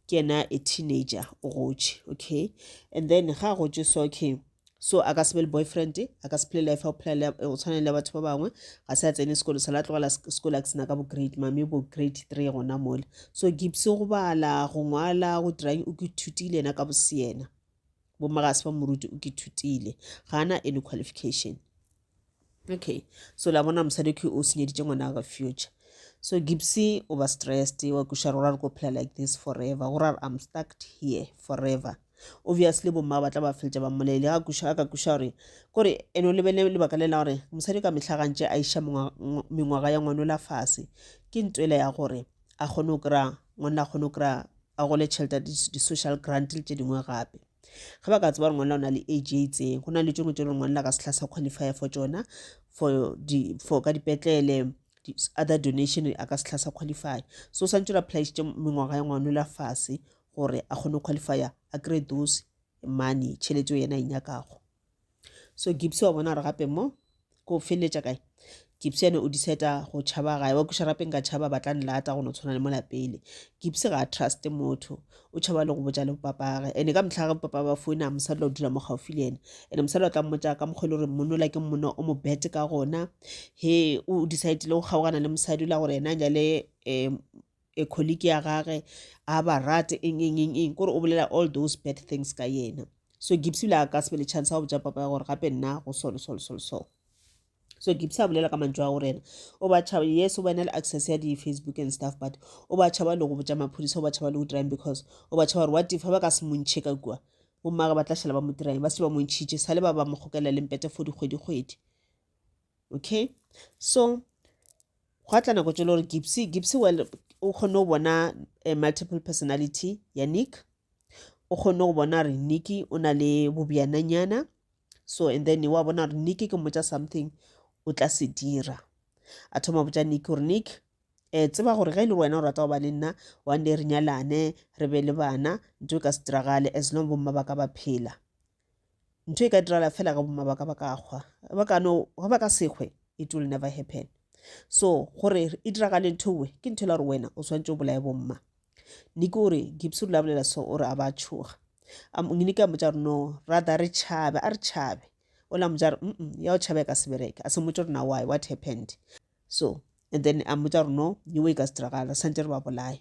ke yena a teenager o gotše okay and then ga a gotše so okay so a ka se be le boyfriend a ka se phele life o phela o tshwana le batho ba bangwe ga se a tsene sekolo sa la tlogela sekolo a ke sena ka bo grade mame bo grade three gona mole so gibse go bala go ngwala go dirang o ke thutile yena ka boseena bo magase ba moruti o ke thutile ga ana any qualification okay so la bona mosadi okay o senyeditše ngwana ga future so gipsy o ba stressed wa kuša rora re ko phela like this forever go ra i'm stuck here forever obviously bomma ba tla ba feletša ba mmolele ga kuša ka kuša gore kore ene o lebele lebaka le la gore mosadi ka mehla gantše a iša mengwaga ya ngwano la fase ke ntwela ya gore a kgone go kry-a ngwanna a kgone go kry-a a gole tšhelete di-social grant le tše dingwe gape ge ba ka tseba gore ngwanela o na le age e itseng go na le tšengwe tše ngwanela ka sehla sa qualify for tsona for di for ka dipetlele other donation a ka sehla sa qualify so santse re apolaisitše mengwaga ya ngwanela fase gore a kgone go qualify a kry those money tšhelete yena e nyakago so gipsy wa bona gore gape mo ko feleletša kae gipsy ene o diseta go tšhaba gae wa kuša rapeng ka tšhaba batla nlata go no tshwana le molapele gipsy ga a truste motho o tšhaba le go botša le bopapage ene ka motlha ga bopapa ba founa mosadi o dula mo gaufi le ene ene mosadi o tla mmotsa ka mokgwa e le gore monola ke mono o mo bete ka gona he o decidile go kgaogana le mosadi o la gore ena jale um e colleague ya gage a ba rate eng eng eng eng kore o bolela all those bad things ka yena so gibbs ile a ka se be le chance ya go botsa papa ya gore gape nna go solo solo solo so so gibbs a bolela ka mantšu a gore ena o ba tšhaba yes o ba ena le access ya di-facebook and stuff but o ba tšhaba le go botsa maphodisa o ba tšhaba le go dirang because o ba tšhaba gore what if ba ka se montšhe ka kua bommage ba tla šhala ba mo dirang ba se ba montšhitše sale ba ba mo kgokela le mpete for dikgwedikgwedi okay so gwa tla nako tšelo gore gipsy gipsy well o kgone go bona a eh, multiple personality ya nick o kgone go bona gore nicky o na le bobjananyana so and then wa bona gore nicky ke mmotsa something o tla se dira a thoma botsa nick gore nick um tseba gore ge e le wena o rata go ba le nna one day re nyalane re be le bana nto e ka se diragale as long bomma ba ka ba phela ntho e ka dirala fela ge bomma ba ka ba ka kgwa ba ka no ge ba ka sekgwe it will never happen so gore e diragale ntho we ke ntho e la gore wena o tshwanetse o bolaye bomma ne ke ore gibse rula bolela so ore a ba tshoga ne ke a motsa gore no rather re tšhabe a re tšhabe o la motsa gore mm ya o tšhabe ka sebereke a se motse gore na why what happened so and then a motsa gore no nyewe e ka se diragala santse re ba bolaye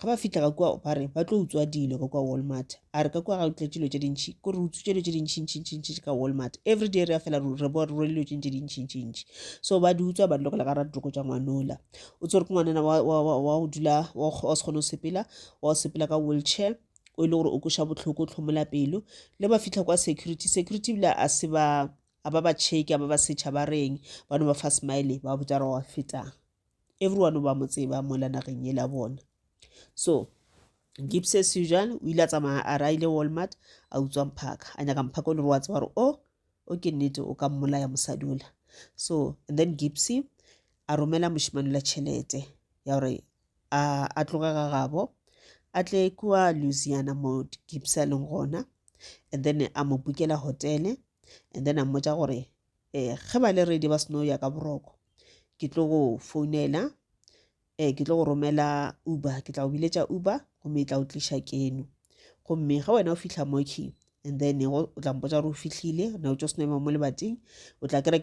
ga ba fitlha ka kua ba re ba tlo utswa dilo ka kua walmart a re ka kua ga utlwa dilo tše dintšhi ko re utswitse dilo tše dintšhintšhintšhintši ka walmart every day re ya fela re bo re dilo tše ntše dintšhintšhintši so ba di utswa ba di lokela ka ra ditoko tša ngwanola o tsere ke ngwanana wa go dula wa se kgone go sepela wa go sepela ka wheelchair o e le gore o koša botlhoko tlhomola pelo le ba fitlha kwa security security bile a se ba a ba ba cheke a ba ba setšha ba reng ba no ba fa smile ba botsa re wa fetang everyone o ba mo tseba mo la nageng e la bona so gibbs as usual o ile a tsamaya a raile walmart a utswa mphaka a nyaka mphaka o le re wa tseba gore o oh, o ke nnete o ka mmolaya mosadi ola so and then gibbs a romela mošimane la tšhelete ya gore a tloge ga gabo a tle kua louisiana mo gibbs a leng gona and then a mo bukela hotele and then a mmotsa gore eh, ge ba le ready ba seno ya ka boroko ke tlo go founela eh, ke tlo go romela uber ke tla go biletša uber gomme e tla o tliša keno gomme ge wena o fitlha moki and then o tla mpotsa gore o fihlile na o tso seno ema mo lebating o tla kry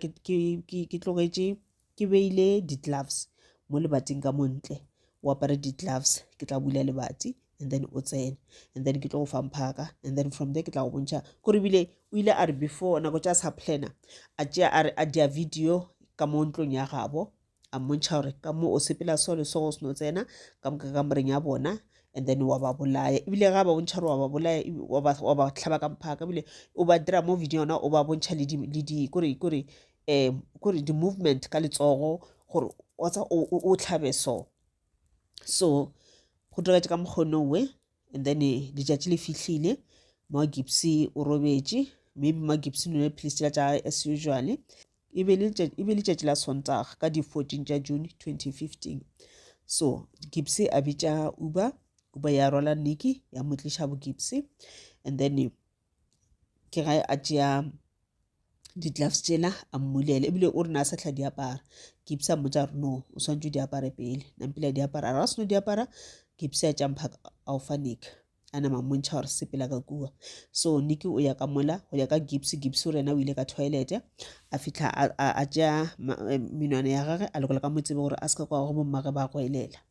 ke tlogetše ke beile di gloves mo lebating ka montle o apare di gloves ke tla bula lebati and then o tsene and then ke tlo go fa mphaka and then from there ke tla go bontšha kore ebile o ile a re before nako tša sa plana a tšea a re a dia video ka mo ntlong ya gabo a mmontšha gore ka mo o sepela so le so go seno tsena ka moka ka moreng ya bona and then wa ba bolaya ebile ga ba bontšha gore wa ba bolaya wa ba tlhaba ka mphaka ebile o ba dira mo video yona o ba bontšha le di kore kore um kore di-movement ka letsogo gore wa tsa o tlhabe so so go diretše ka mokgono we and then letšatši le fihlile ma gipsy o robetše maybe ma gipsy nole philisi tša gage as usually e be letšatši la sontaga ka di-fourteen tša june 2015 so gipsy a bitša uber uber ya rwala niki ya mo tliša bo gipsy and then ke ge a tšea di-gloves tšena a mmulele ebile o rena a sa tlha di apara kipse a mmotsa gore no o swantse di apare pele nampile a di apara ra seno di apara kipse a tšampha ao fa nick a nama mmontšha gore sepela ka kua so nick o ya ka mola go ya ka gips gips o rena o ile ka toilete a fitlha a tšea menwana ya gage a lokola ka mo tsebe gore a se ka kwa go bommage ba go elela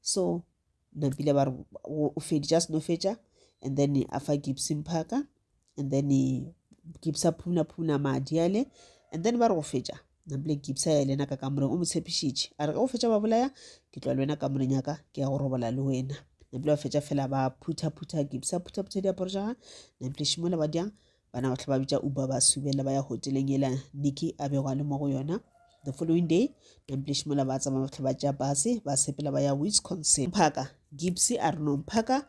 so napile ba re o feditša seno fetša and then a fa gibson phaka and then gibsa phuna phuna madi ale and then ba re go fetša napile gibsa ya lena ka kamoreng o mo tshepišitše a re ge o fetša ba bolaya ke tloa le wena kamoreng yaka ke ya go robola le wena napile ba fetša fela ba phutha phutha gibsa phutha phutha diaparo ja gage napile šimola ba dyang Bana bohle ba bitša Uber ba subela ba ya hoteleng yela Nicky a bego a le mo go yona. The following day, Namplish mola ba tsamaya bohle ba tšea base ba sepela ba ya Wisconsin. Mphaka, Gibbs a re no Mphaka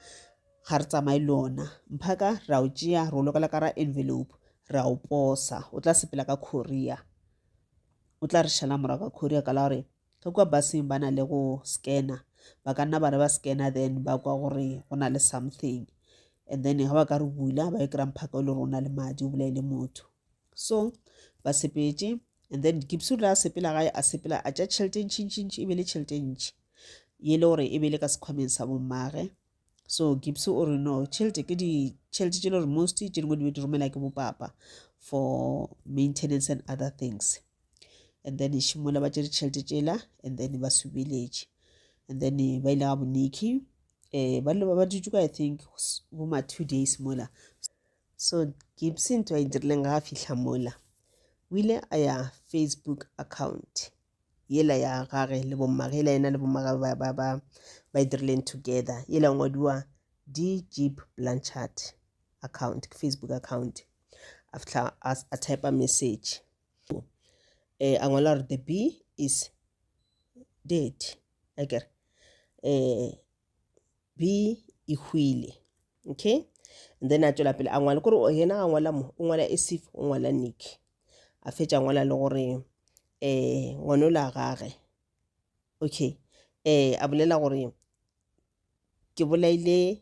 ga re tsamaye le ona. Mphaka ra o tšea re o lokela ka ra envelope ra o posa. O tla sepela ka Korea. O tla re šala morago ka Korea ka la gore Ge kua busing ba na le go scanner, ba ka nna ba re ba scanner then ba kwa gore go na le something and then ge ba ka re bula ba yo kry-a mphaka o le gore o na le madi o bolaile motho. So ba sepetše and then Dikipsu le a sepela gae a sepela a tša tšhelete e ntšhi ntšhi ntšhi e be le tšhelete e ntšhi ye le gore e be le ka sekhwameng sa bommage. So Gipsu o re no tšhelete ke ditšhelete tše le gore most tše dingwe di be di romela ke bopapa for maintenance and other things. and then šimola ba tše ditšhelete tšela and then ba subeletše and then ba ile ga boniki um eh, ba loba ba dutse ka i think boma two days mola so gibsy ntho a e dirileng ga a fitlha mola o ile a ya facebook account yela ya gage le bommage yela yena le bommage ba, ba, ba, ba e dirileng together yela ngwadiwa d jeep blanchard account ke facebook account a fitlha a type message eh, a ngwala gore the bee is dead a kere eh, bee e hwile okay and then a tswela pele a ngwala kore yena a ngwala mo o ngwala esif o ngwala nick a fetša ngwala le gore um eh, ngwana o la gage okay um a bolela gore ke bolaile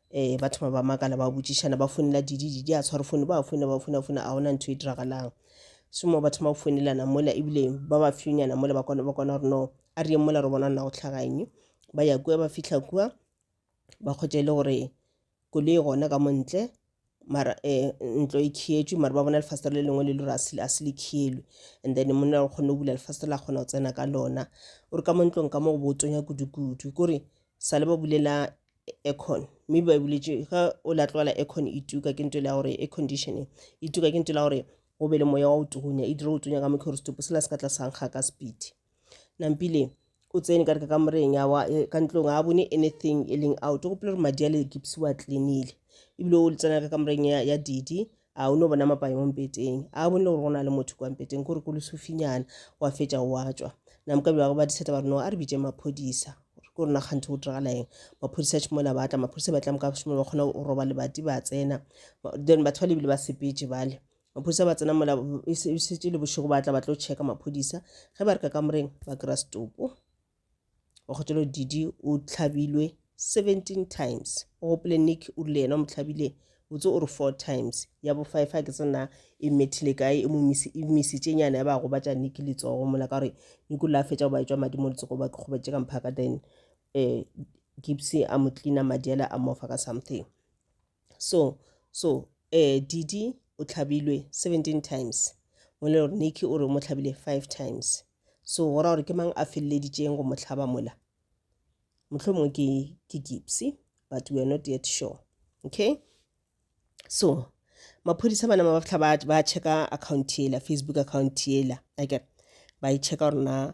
um ba thoma ba makala ba botšišana ba founela didi didi a tshware fone ba founa ba founa founa a gona ntho e diragalang somo ba thoma go founelana mola ebile ba ba fewnyana mola ba kwana ba kwana gore no a re yeng mola re bona nna go tlhagaeng ba ya kua ba fitlha kua ba kgotše e le gore koloi gona ka montle mara eh, ntlo e khietšwe mara ba bona lefastere le lengwe le lore a se a se le khielwe and then monna go kgone go bula lefastere la kgona go tsena ka lona o re ka mo ntlong ka mo go botsonya kudu-kudu kore sa le ba bulela aircon mme ba e buletše ga o la tlogela aircon e tuka ke nto e le ya gore air conditioning e tuka ke nto e le ya gore go be le moya wa go tugunya e dire go tsonya ka mokhe gore setopo sela se ka tla sa nkga ka speed nampile o tsene ka re ka kamoreng ya wa eh, ka ntlong a bone anything e leng out o gopole gore madi a le gipsi wa cleanile ebile o tsena ka kamoreng ya, ya didi a o ne o bona mapae mo mpeteng a bone le gore go na le motho kwa mpeteng kore ko lesofinyana wa fetša wa tswa namkabi ba go ba diseta ba re no a re bitše maphodisa ke rona kganthe go diragala eng maphodisa tšhimola ba tla maphodisa ba tla moka tšhimola ba kgona go roba lebati ba tsena then batho ba lebile ba sepetse bale Maphodisa ba tsena mola e šetše le bošego ba tla ba tlo tšheka maphodisa ge ba re ka kamoreng ba kry-a setopo. Wakgotšelo Didi o tlhabilwe 17 times. O gopole Nick o rile yena o mo tlhabile botse o re 4 times. Ya bo five ha ke se na e mmethile kae e mo misi- e misitše nyana ya ba gobatša Nick letsogo mola ka gore Nick o la a fetša go ba etšwa madi mo letsogo ba gobatše ka mphaka then eh, Gibsy a mo cleaner madi ale a mofa ka something. so so eh didi o tlhabilwe 17 times mole gore niki o re o mo tlhabile 5 times so go ra gore ke mang a feleleditšeng go mo tlhaba mola motlho mongwe ke ke gipsy but we are not yet sure okay so maphodisa bana ba batlha ba checka account yela facebook account yela akere ba e checka gore na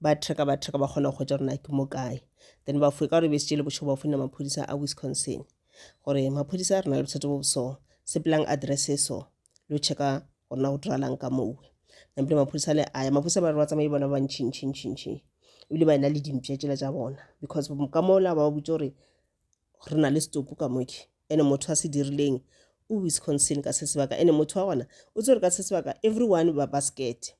ba track ba track ba kgona go hwetša rona ke mo kae then ba foe ka gore be se tšele bošego ba founela maphodisa a wisconsin gore maphodisa re na le bothata bo boso sepelang address e so lo checka gore na go diralang ka mowe nampile maphodisa le aya maphodisa ba re ba tsamaye bona ba ntšhintšhintšhintšhi ebile ba ena le dimpša tšela tša bona because ka mola ba botse gore re na le setopo ka moke ene motho a se dirileng o wisconsin ka se sebaka ene motho wa gona o tsere ka se sebaka everyone ba basket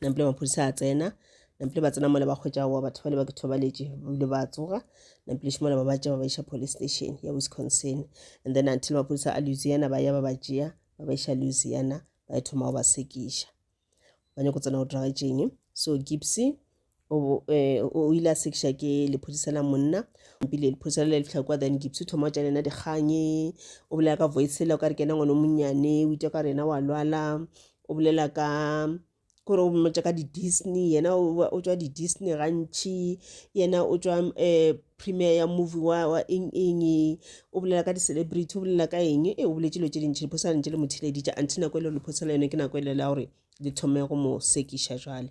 nampile maphodisa a tsena nampile ba tsena mole ba kgwetsa wa batho bale ba ke thobaletše bile ba tsoga nampile šimola ba ba tšea ba ba iša police station ya wisconsin and then until maphodisa a louisiana ba ya ba ba tšea ba ba iša louisiana ba e thoma go ba sekiša ba nyako tsena go dragetšeng so gipsy o eh, o ile a sekiša ke lephodisa la monna mpile lephodisa le le fitlha kwa then gipsy thoma o tša lena dikganye o bolela ka voice la o ka re ke ena ngwana o monnyane o itwa ka rena wa lwala o bolela ka kore o mmotša ka di-disney yena o ba- o tswa di-disney gantšhi yena o tswa um premier ya movie wa wa eng eng o bolela ka di-celebrity o bolela ka eng e o boletse dilo tše dintšhi lephodisa la ntše le mo theleditša until nako e le gore lephodisa la yone ke nako e le la gore le thome go mo sekiša jwale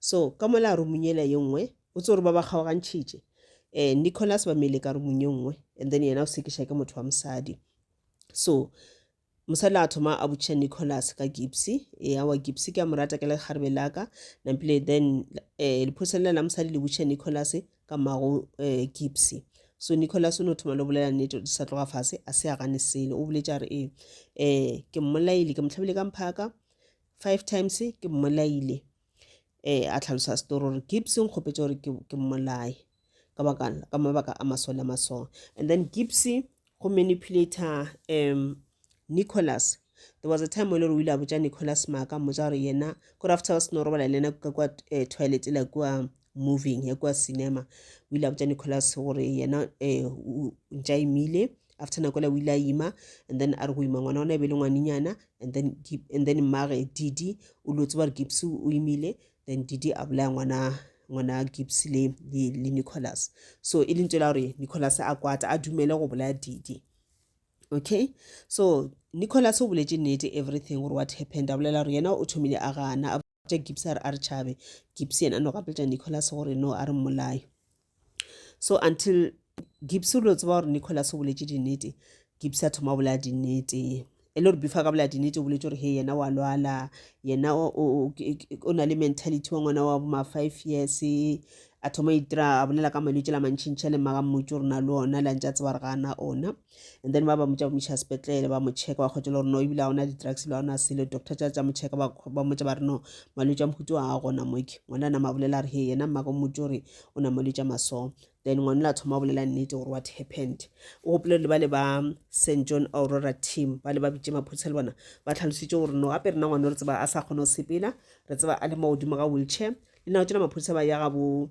so ka mola a rumung yela ye nngwe o tse gore ba ba kgaogantšhitše um nicholas ba meile ka rumung ye nngwe and then yena o sekiša ke motho wa mosadi so mosadi a thoma a botšiša nicholas ka gipsy ea wa gipsy ke a mo rata ke le kgarebe la ka nampile then um lephoselela la mosadi le botšiša nicholas ka mago um gipsy so nicholas o ne o thoma le bolela nnete di sa tloga fase a se a gane sele o boletša re ee um ke mmolaile ke motlhabile ka mphaka five times ke mmolaile eh a tlhalosa story gore gibbs o nkgopetše gore ke mmolaye ka baka ka mabaka a masole a masong and then gibbs go manipulator um nicholas there was a time e le gore o ile a botsa nicholas maaka mmotsa gore yena kore after ba seno robala le ena ka kwa eh, toilet la kua moving ya kwa cinema o ile a botsa nicholas gore yena um ntša imile after nako la o ile a ima and then a re go ima ngwana ona e be le ngwanenyana and then and then mmage didi o lo tseba gore gips o imile then didi a bolaya ngwana ngwana gips le le le nicholas so e lentse la gore nicholas a kwata a dumele go bolaya didi okay so nicholas o boletse nnete everything gore what happened a bolela gore yena o thomile a gana Tša Gibbs a re a re tšhabe. Gibbs yena a no gapetša Nicholas gore no a re mmolaye. So until Gibbs o lo tseba gore Nicholas o boletše dinnete, Gibbs a thoma bolaya dinnete e le gore before ka bolaya dinnete o boletse gore he yena wa lwala yena o na le mentality wa ngwana wa boma five years a thoma itira a bolela ka malwetse la mantšhintšha le maga mmotse gore na le ona la ntse a tseba gore ga ana ona and then ba ba motša ba moša sepetlele ba mo checka ba kgotse le gore no ebile a ona di-drugs le ona selo doctor tša tša mo checka ba motša ba re no malwetse a mohutu a a gona moke ngwana a nama bolela re he yena mmaka motse gore o na malwetse a masong then ngwana la thoma bolela nnete gore what happened o gopole le ba le ba st john aurora team ba le ba bitse maphodisa le bona ba tlhalositse gore no gape rena ngwana re tseba a sa kgone go sepela re tseba a le mo godimo ga wheelchair le nako tsena maphodisa ba ya gabo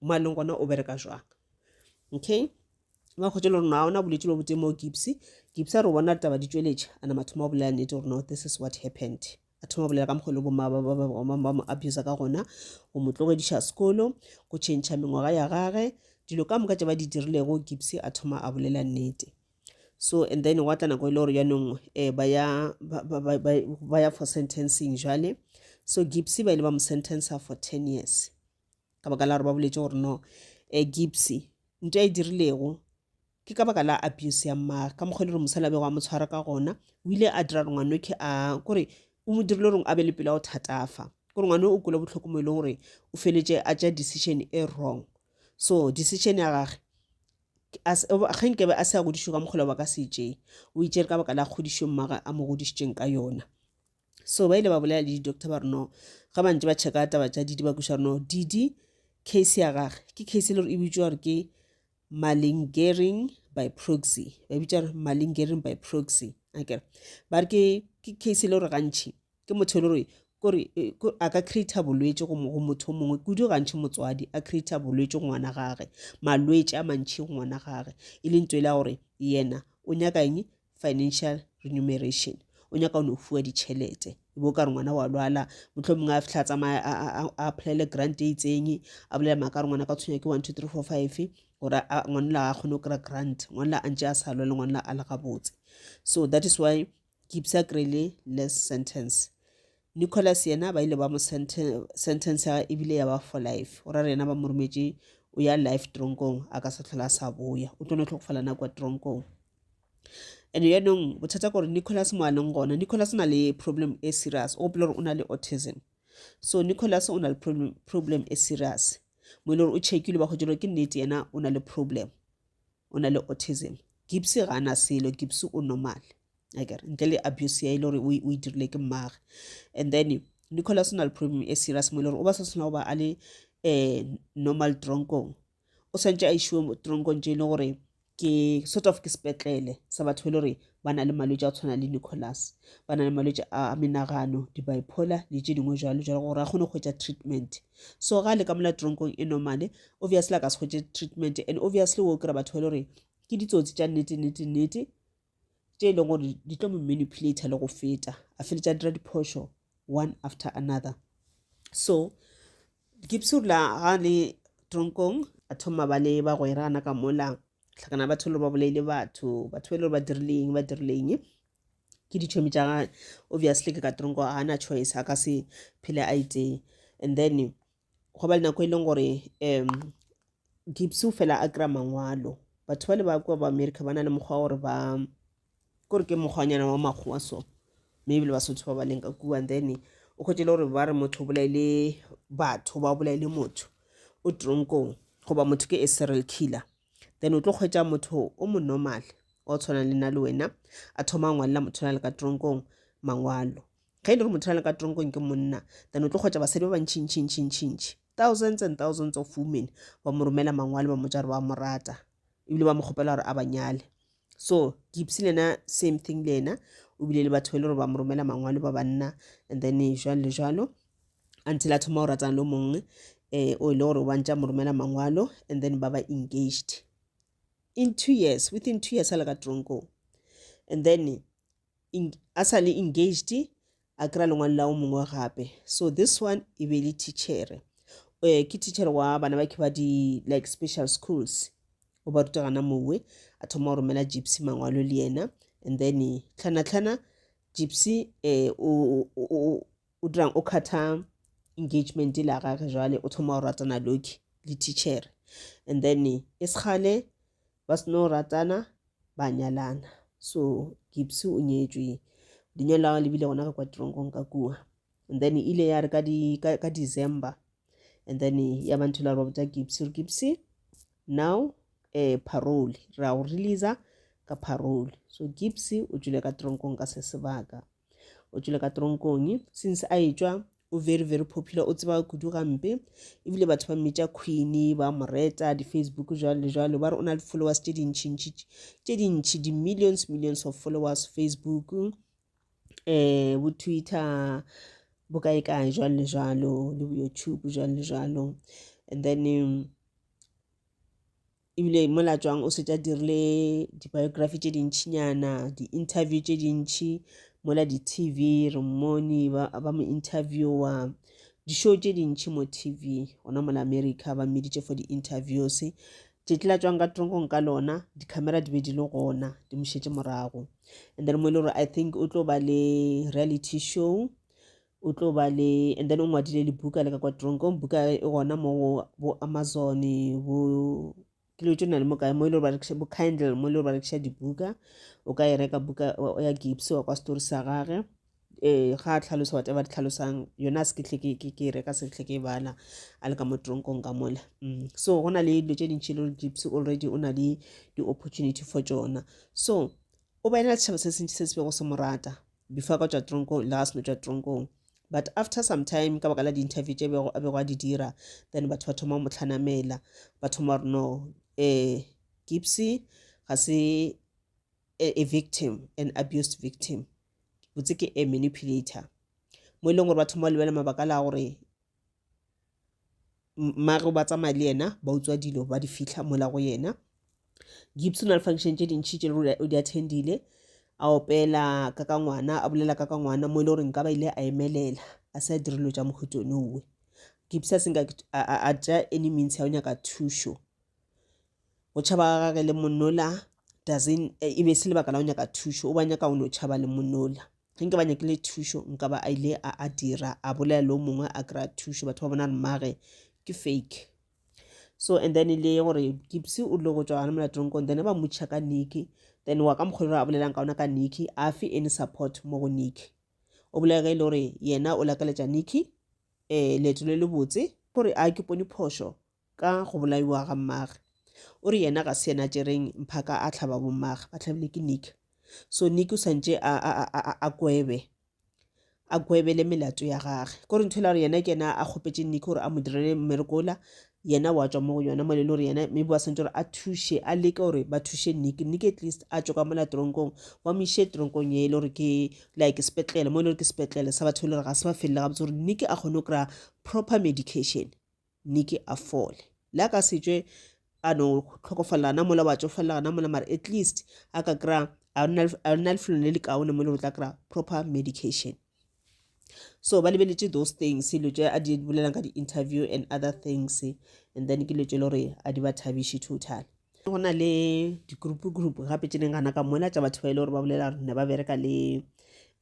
mo a leng gona o bereka jwang okay ba kgotse le rona ona bolwetse lo botse mo gipsy gipsy a re bona taba di tsweletše a nama thoma go bolela nnete gore no this is what happened a thoma bolela ka mokgolo bomma ba ba mo abusa ka gona go mo tlogediša sekolo go tšhentšha mengwaga ya gage dilo ka moka tše ba di dirilego gipsy a thoma a bolela nnete so and then gwa tla nako e le gore jaanong um eh, ba ya for sentencing jale so gipsy ba ile ba mo sentencer for ten years ka baka la gore ba boletse gore no um gipsy nto e dirilego ke ka baka la abuse ya mmaagwe ka mokgwa e le gore mosala bego a mo tshwara ka gona o ile a dira gore ngwanoke a kore o mo dirile goreng a be le pela go thatafa kore ngwane o kwele botlhoko mo e leng gore o feletse a tša decision e wrong so decision ya gage ge nkebe a se a godišwe ka mokgolo ba ka se tšee o itšere ka baka la kgodišo mmaga a mo godišitšeng ka yona. So ba ile ba bolela le di-doctor ba re no ga ba ntse ba checka taba tša didi ba kweša re no didi case ya gage ke case e le gore e bitšwa gore ke malingering by proxy ba bitša gore malingering by proxy akere ba re ke case e le gore gantšhi ke motho e le gore kore a ka creata bolwetse go motho o mongwe kudu gantšhi motswadi a creata bolwetse go ngwana gage malwetse a mantšhi go ngwana gage e leng tswela gore yena o nyaka eng financial remuneration o nyaka o no fuwa ditšhelete e bo ka re ngwana wa lwala motlho mongwe a fitlha tsamaya a applyele grant e itseng a bolela maaka re ngwana ka tshwenya ke one two three four five gore ngwanela a kgone go kry-a grant ngwanela a ntse a sa lwa le ngwanela a le gabotse so that is why kipsa krele less sentence nicholas yena ba ile ba mo sentence ya ebile ya ba for life o ra re yena ba mo rometše o ya life tronkong a ka sa tlhola a sa boya o tlo no tlhokofala nako ya tronkong and yaanong bothata gore nicholas mo a leng gona nicholas o na le problem e serious o gopela gore o na le autism so nicholas o na le problem, problem e serious mo e le gore o checkile ba kgotse ke nnete yena o na le problem o na le autism gibse ga ana selo gibse o normal akere ntle le abuse ya e le gore o e dirile ke mmage and then nicholas o na le problem e serious mo e le gore o ba sa tshwana go ba a le um normal tronkong o swantše a išiwe mo tronkong tše e le gore ke sort of ke sepetlele sa batho e le gore ba na le malwetse a tshwana le nicholas ba na le malwetse a menagano di-bipolar le tše dingwe jalo jalo gore a kgone go hwetša treatment so ga le ka mola tronkong e normale obviously a ka se hwetše treatment and obviously wo kry batho e le gore ke ditsotsi tša nnete nnete nnete tše e leng gore di tlo mo manipulator le go feta a feletša dira diphošo one after another so gipsula ga le tronkong a thoma ba le bagwerana ka mola tlhakana batho le ba bolaile batho batho ba e le gore ba dirileng ba dirileng ke ditšhomi tša ga obviously ke ka tronko ga na choice a ka se phele a itee and then go ba le nako e leng gore um gipsy o fela a kry-a mangwalo batho ba le ba kua ba america ba na le mokgwa gore ba kore ke mokgwanyana wa makgowa so maybe le basotho ba ba leng ka kua and then o kgwetele gore ba re motho o bolaile batho ba o bolaile motho o tronkong goba motho ke a serial killer then o tlo kgwetsa motho o mo normal o tshwanang le na le wena a thoma a ngwalela motho na le ka tronkong mangwalo Ge e le gore motho a le ka tronkong ke monna, then o tlo kgwetša basadi ba bantši ntši ntši ntši ntši. Thousands and thousands of women ba mo romela mangwalo ba mo tša gore ba mo rata ebile ba mo kgopela gore a ba nyale. So Gipsy le yena same thing le yena o bile le batho ba e le gore ba mo romela mangwalo ba banna and then jwalo le jwalo until a thoma go ratana le mongwe um o e le gore o bantša mo romela mangwalo and then ba ba engaged in two years within two years a le ka tronkong and then a sa le engaged a kry-a lengwalo la o mongwe gape so this one e be le teachere um ke teachere wa bana ba ke ba di like special schools o ba rutagana mowe a thoma go romela gypsy mangwalo le yena and then tlhanatlhana gypsy um o dirang o kgatha engagement la gage jale o thoma go ratana loki le teachere and then e segale ba se no ratana ba nyalana so Gibbs o nyetšwe lenyalo la gagwe le bile gona ka kwa tironkong ka kua and then e ile ya re ka, di, ka, ka december and then ya ba ntho la re ba botsa Gibbs re Gibbs now eh, parole ra go releasa ka parole so Gibbs o tšwile ka tironkong ka se sebaka o tšwile ka tronkong since a etšwa o very very popular o tseba kudu gampe ebile batho ba mmitša queen ba mo reta di-facebook jalo le jalo ba re o na le followers tše dintšhintši tše dintšhi di-millions millions of followers facebook um eh, bo twitter bo kae kae jalo le jalo le bo youtube jalo le jalo and then um, ebile mola tšwang o setse a dirile di-biography tše dintšhinyana di-interview tše dintšhi mola di-tv re mmone ba mo interviewa di-show tše dintšhi mo tv gona mola america ba mmeditše for di-interviews tšetši la tšwang ka tronkong ka lona di-camera di be di le gona di mošetše morago and then mo e le gore i think o tlo ba le reality show o tlo ba le and then o ngwadile libuka le ka kwa tronkong buka e gona mo go bo amazon bo kilo tse na le mo kae mo e le gore ba bo kindle mo e le gore ba rekiša dibuka o ka e reka buka ya gips wa kwa story sa gage um ga a tlhalosa wate ba di tlhalosang yona a se ke tle ke e reka se tle ke e bala a le ka mo tronkong ka mola mm, so go na le dilo tse dintšhi e le gore gips already o na le di-opportunity for tsona so o ba ena le setšhaba se sentši se se bego se mo rata before ka tšwa tronkong le ga seno tšwa tronkong but after some time ka baka la di-interview tše bego a bego a di dira then batho ba thoma go mo tlhanamela ba thoma gore no um gipsy ga se a victim an abused victim botse ke a manipulator mo e leng gore ba thoma go lebelela mabaka la gore mare ba tsamaya le yena ba utswa dilo ba di fitlha mola go yena gibson a le function tše dintšhi tše o di attendile a opela ka ka ngwana a bolela ka ka ngwana mo e le gore nka ba ile a emelela a se a direlo tša mohutone gibs a senka a tša any means ya o nyaka thušo go tšhaba ga gage le monola doesn't e be se lebaka la go nyaka thušo o ba nyaka o no tšhaba le monola ge nke ba nyakile thušo nka ba a ile a a dira a bolela le o mongwe a kry-a thušo batho ba bona mmage ke fake so and then e le gore kipsy o dile go tswa gane molatong kong then ba motšha ka nicky then wa ka mokgolo gore a bolelang ka ona ka nicky a fe any support mo go nicky o bolela ge e le gore yena o lakaletša nicky um leeto le le botse gore a ke pone phošo ka go bolaiwa ga mmagwe. O re yena ga se yena a tšereng mphaka a hlaba bommagwe, ba hlabilwe ke Nick. So Nick o santše a, a, a, a, a kwebe a kwebele melato ya gage kore ntho e la gore yena ke yena a kgopetše Nick gore a mo direle mmereko ola yena wa tswa mo go yona mo le gore yena maybe wa santse gore a thuše a leke gore ba thuše nick nick at least a tswa ka mola tronkong ba mo iše tronkong e le gore ke like sepetlele mo e le gore ke sepetlele sa batho e le gore ga se ba felele gabotse gore nick a kgone go kry-a proper medication Nicky a fole. Le a ka se tšwe a no tlhokofalela gana mola, wa tšofalela gana mola, mara at least a ka kry-a a lena lefelong le le kaone mo le go tla kry-a proper medication. So ba lebeletše those things, dilo tše a di bolelang ka di-interview and other things, and then ke dilo tše le gore a di ba thabiše total. go na le di-group group gape tše ding gana ka mola tša batho ba ile e gore ba bolela gore ne ba bereka le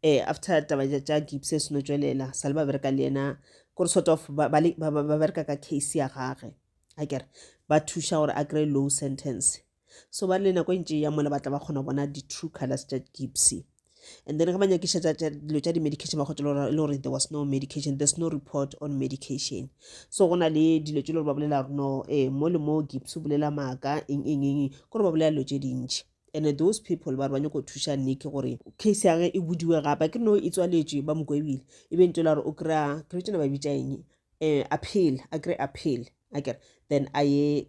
um after taba tša gips e seno tswelela sa le ba bereka le ena kore sort of ba bereka ka case ya gage a kere ba thuša gore a kry low sentence so ba le nako e ntše ya mola ba tla ba kgona go bona di-true colors tša gipsy and then ge ba nyakiša dilo tša di-medication ba kgotsa e le gore there was no medication there's no report on medication so go na le dilo tse le gore ba bolela gore no ee mo le mo gips o bolela maaka eng eng eng kore ba bolela dilo tše dintšhi and those people ba re ba nyako go thuša nike gore case ya ge e budiwe gape ke no e tswaletšwe ba mokwebile e be ntse le gore o kry-a kry tsena ba bitša eng um appeal a kry appeal akere then a ye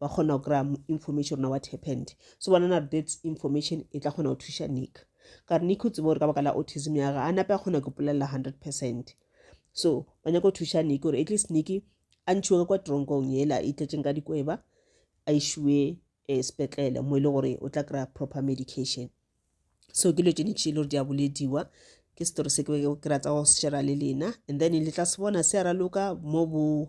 Ba kgona go kry-a information on what happened. So bona na that information e tla kgona go thuša Nick. Ka re Nick o tsebe gore ka baka la autism ya ga a nape a kgona go ipolelela hundred percent. So ba nyaka go thuša Nick gore at least Nick a ntšhiwe ka kwa tronkong yela e tletšeng ka dikweba a išiwe um eh, sepetlele mo e le gore o tla kry-a proper medication so ke dilo tše dintši e le gore di a bolediwa ke setori se ke ke ratsa go shera le lena and then le tla se bona se a raloka mo bo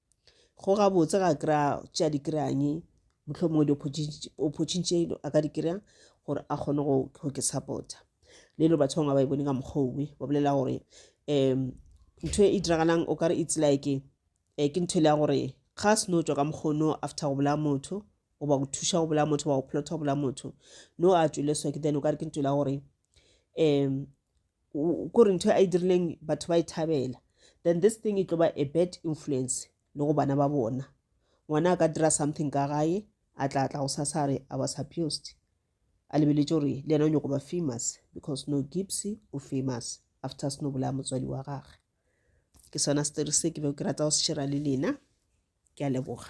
go gabotse ga kry-a tša di kry-anye mohlomongwe di-opportunity tše a ka di kry-a gore a kgone go ke support-a le lo batho bangwe ba e bone ka mokgwa owe ba bolela gore um ntho e diragalang o kare it's like um ke ntho e le ya gore ga se no tswa ka mokgono after go bolaya motho goba go thuša go bolaya motho goba go plota go bolaya motho no a tswile so ke then o kare ke ntho e le ya gore um kore ntho a e dirileng batho ba e thabela then this thing e tlo ba a bad influence le go bana ba bona ngwana a ka dira something ka gae a tla tla go sasa re i was abused a lebeletse gore le yena o nyoko ba famous because no gipsy o famous after seno bolaya motswadi wa gagwe ke sona story se ke be ke rata go se shera le lena ke a leboga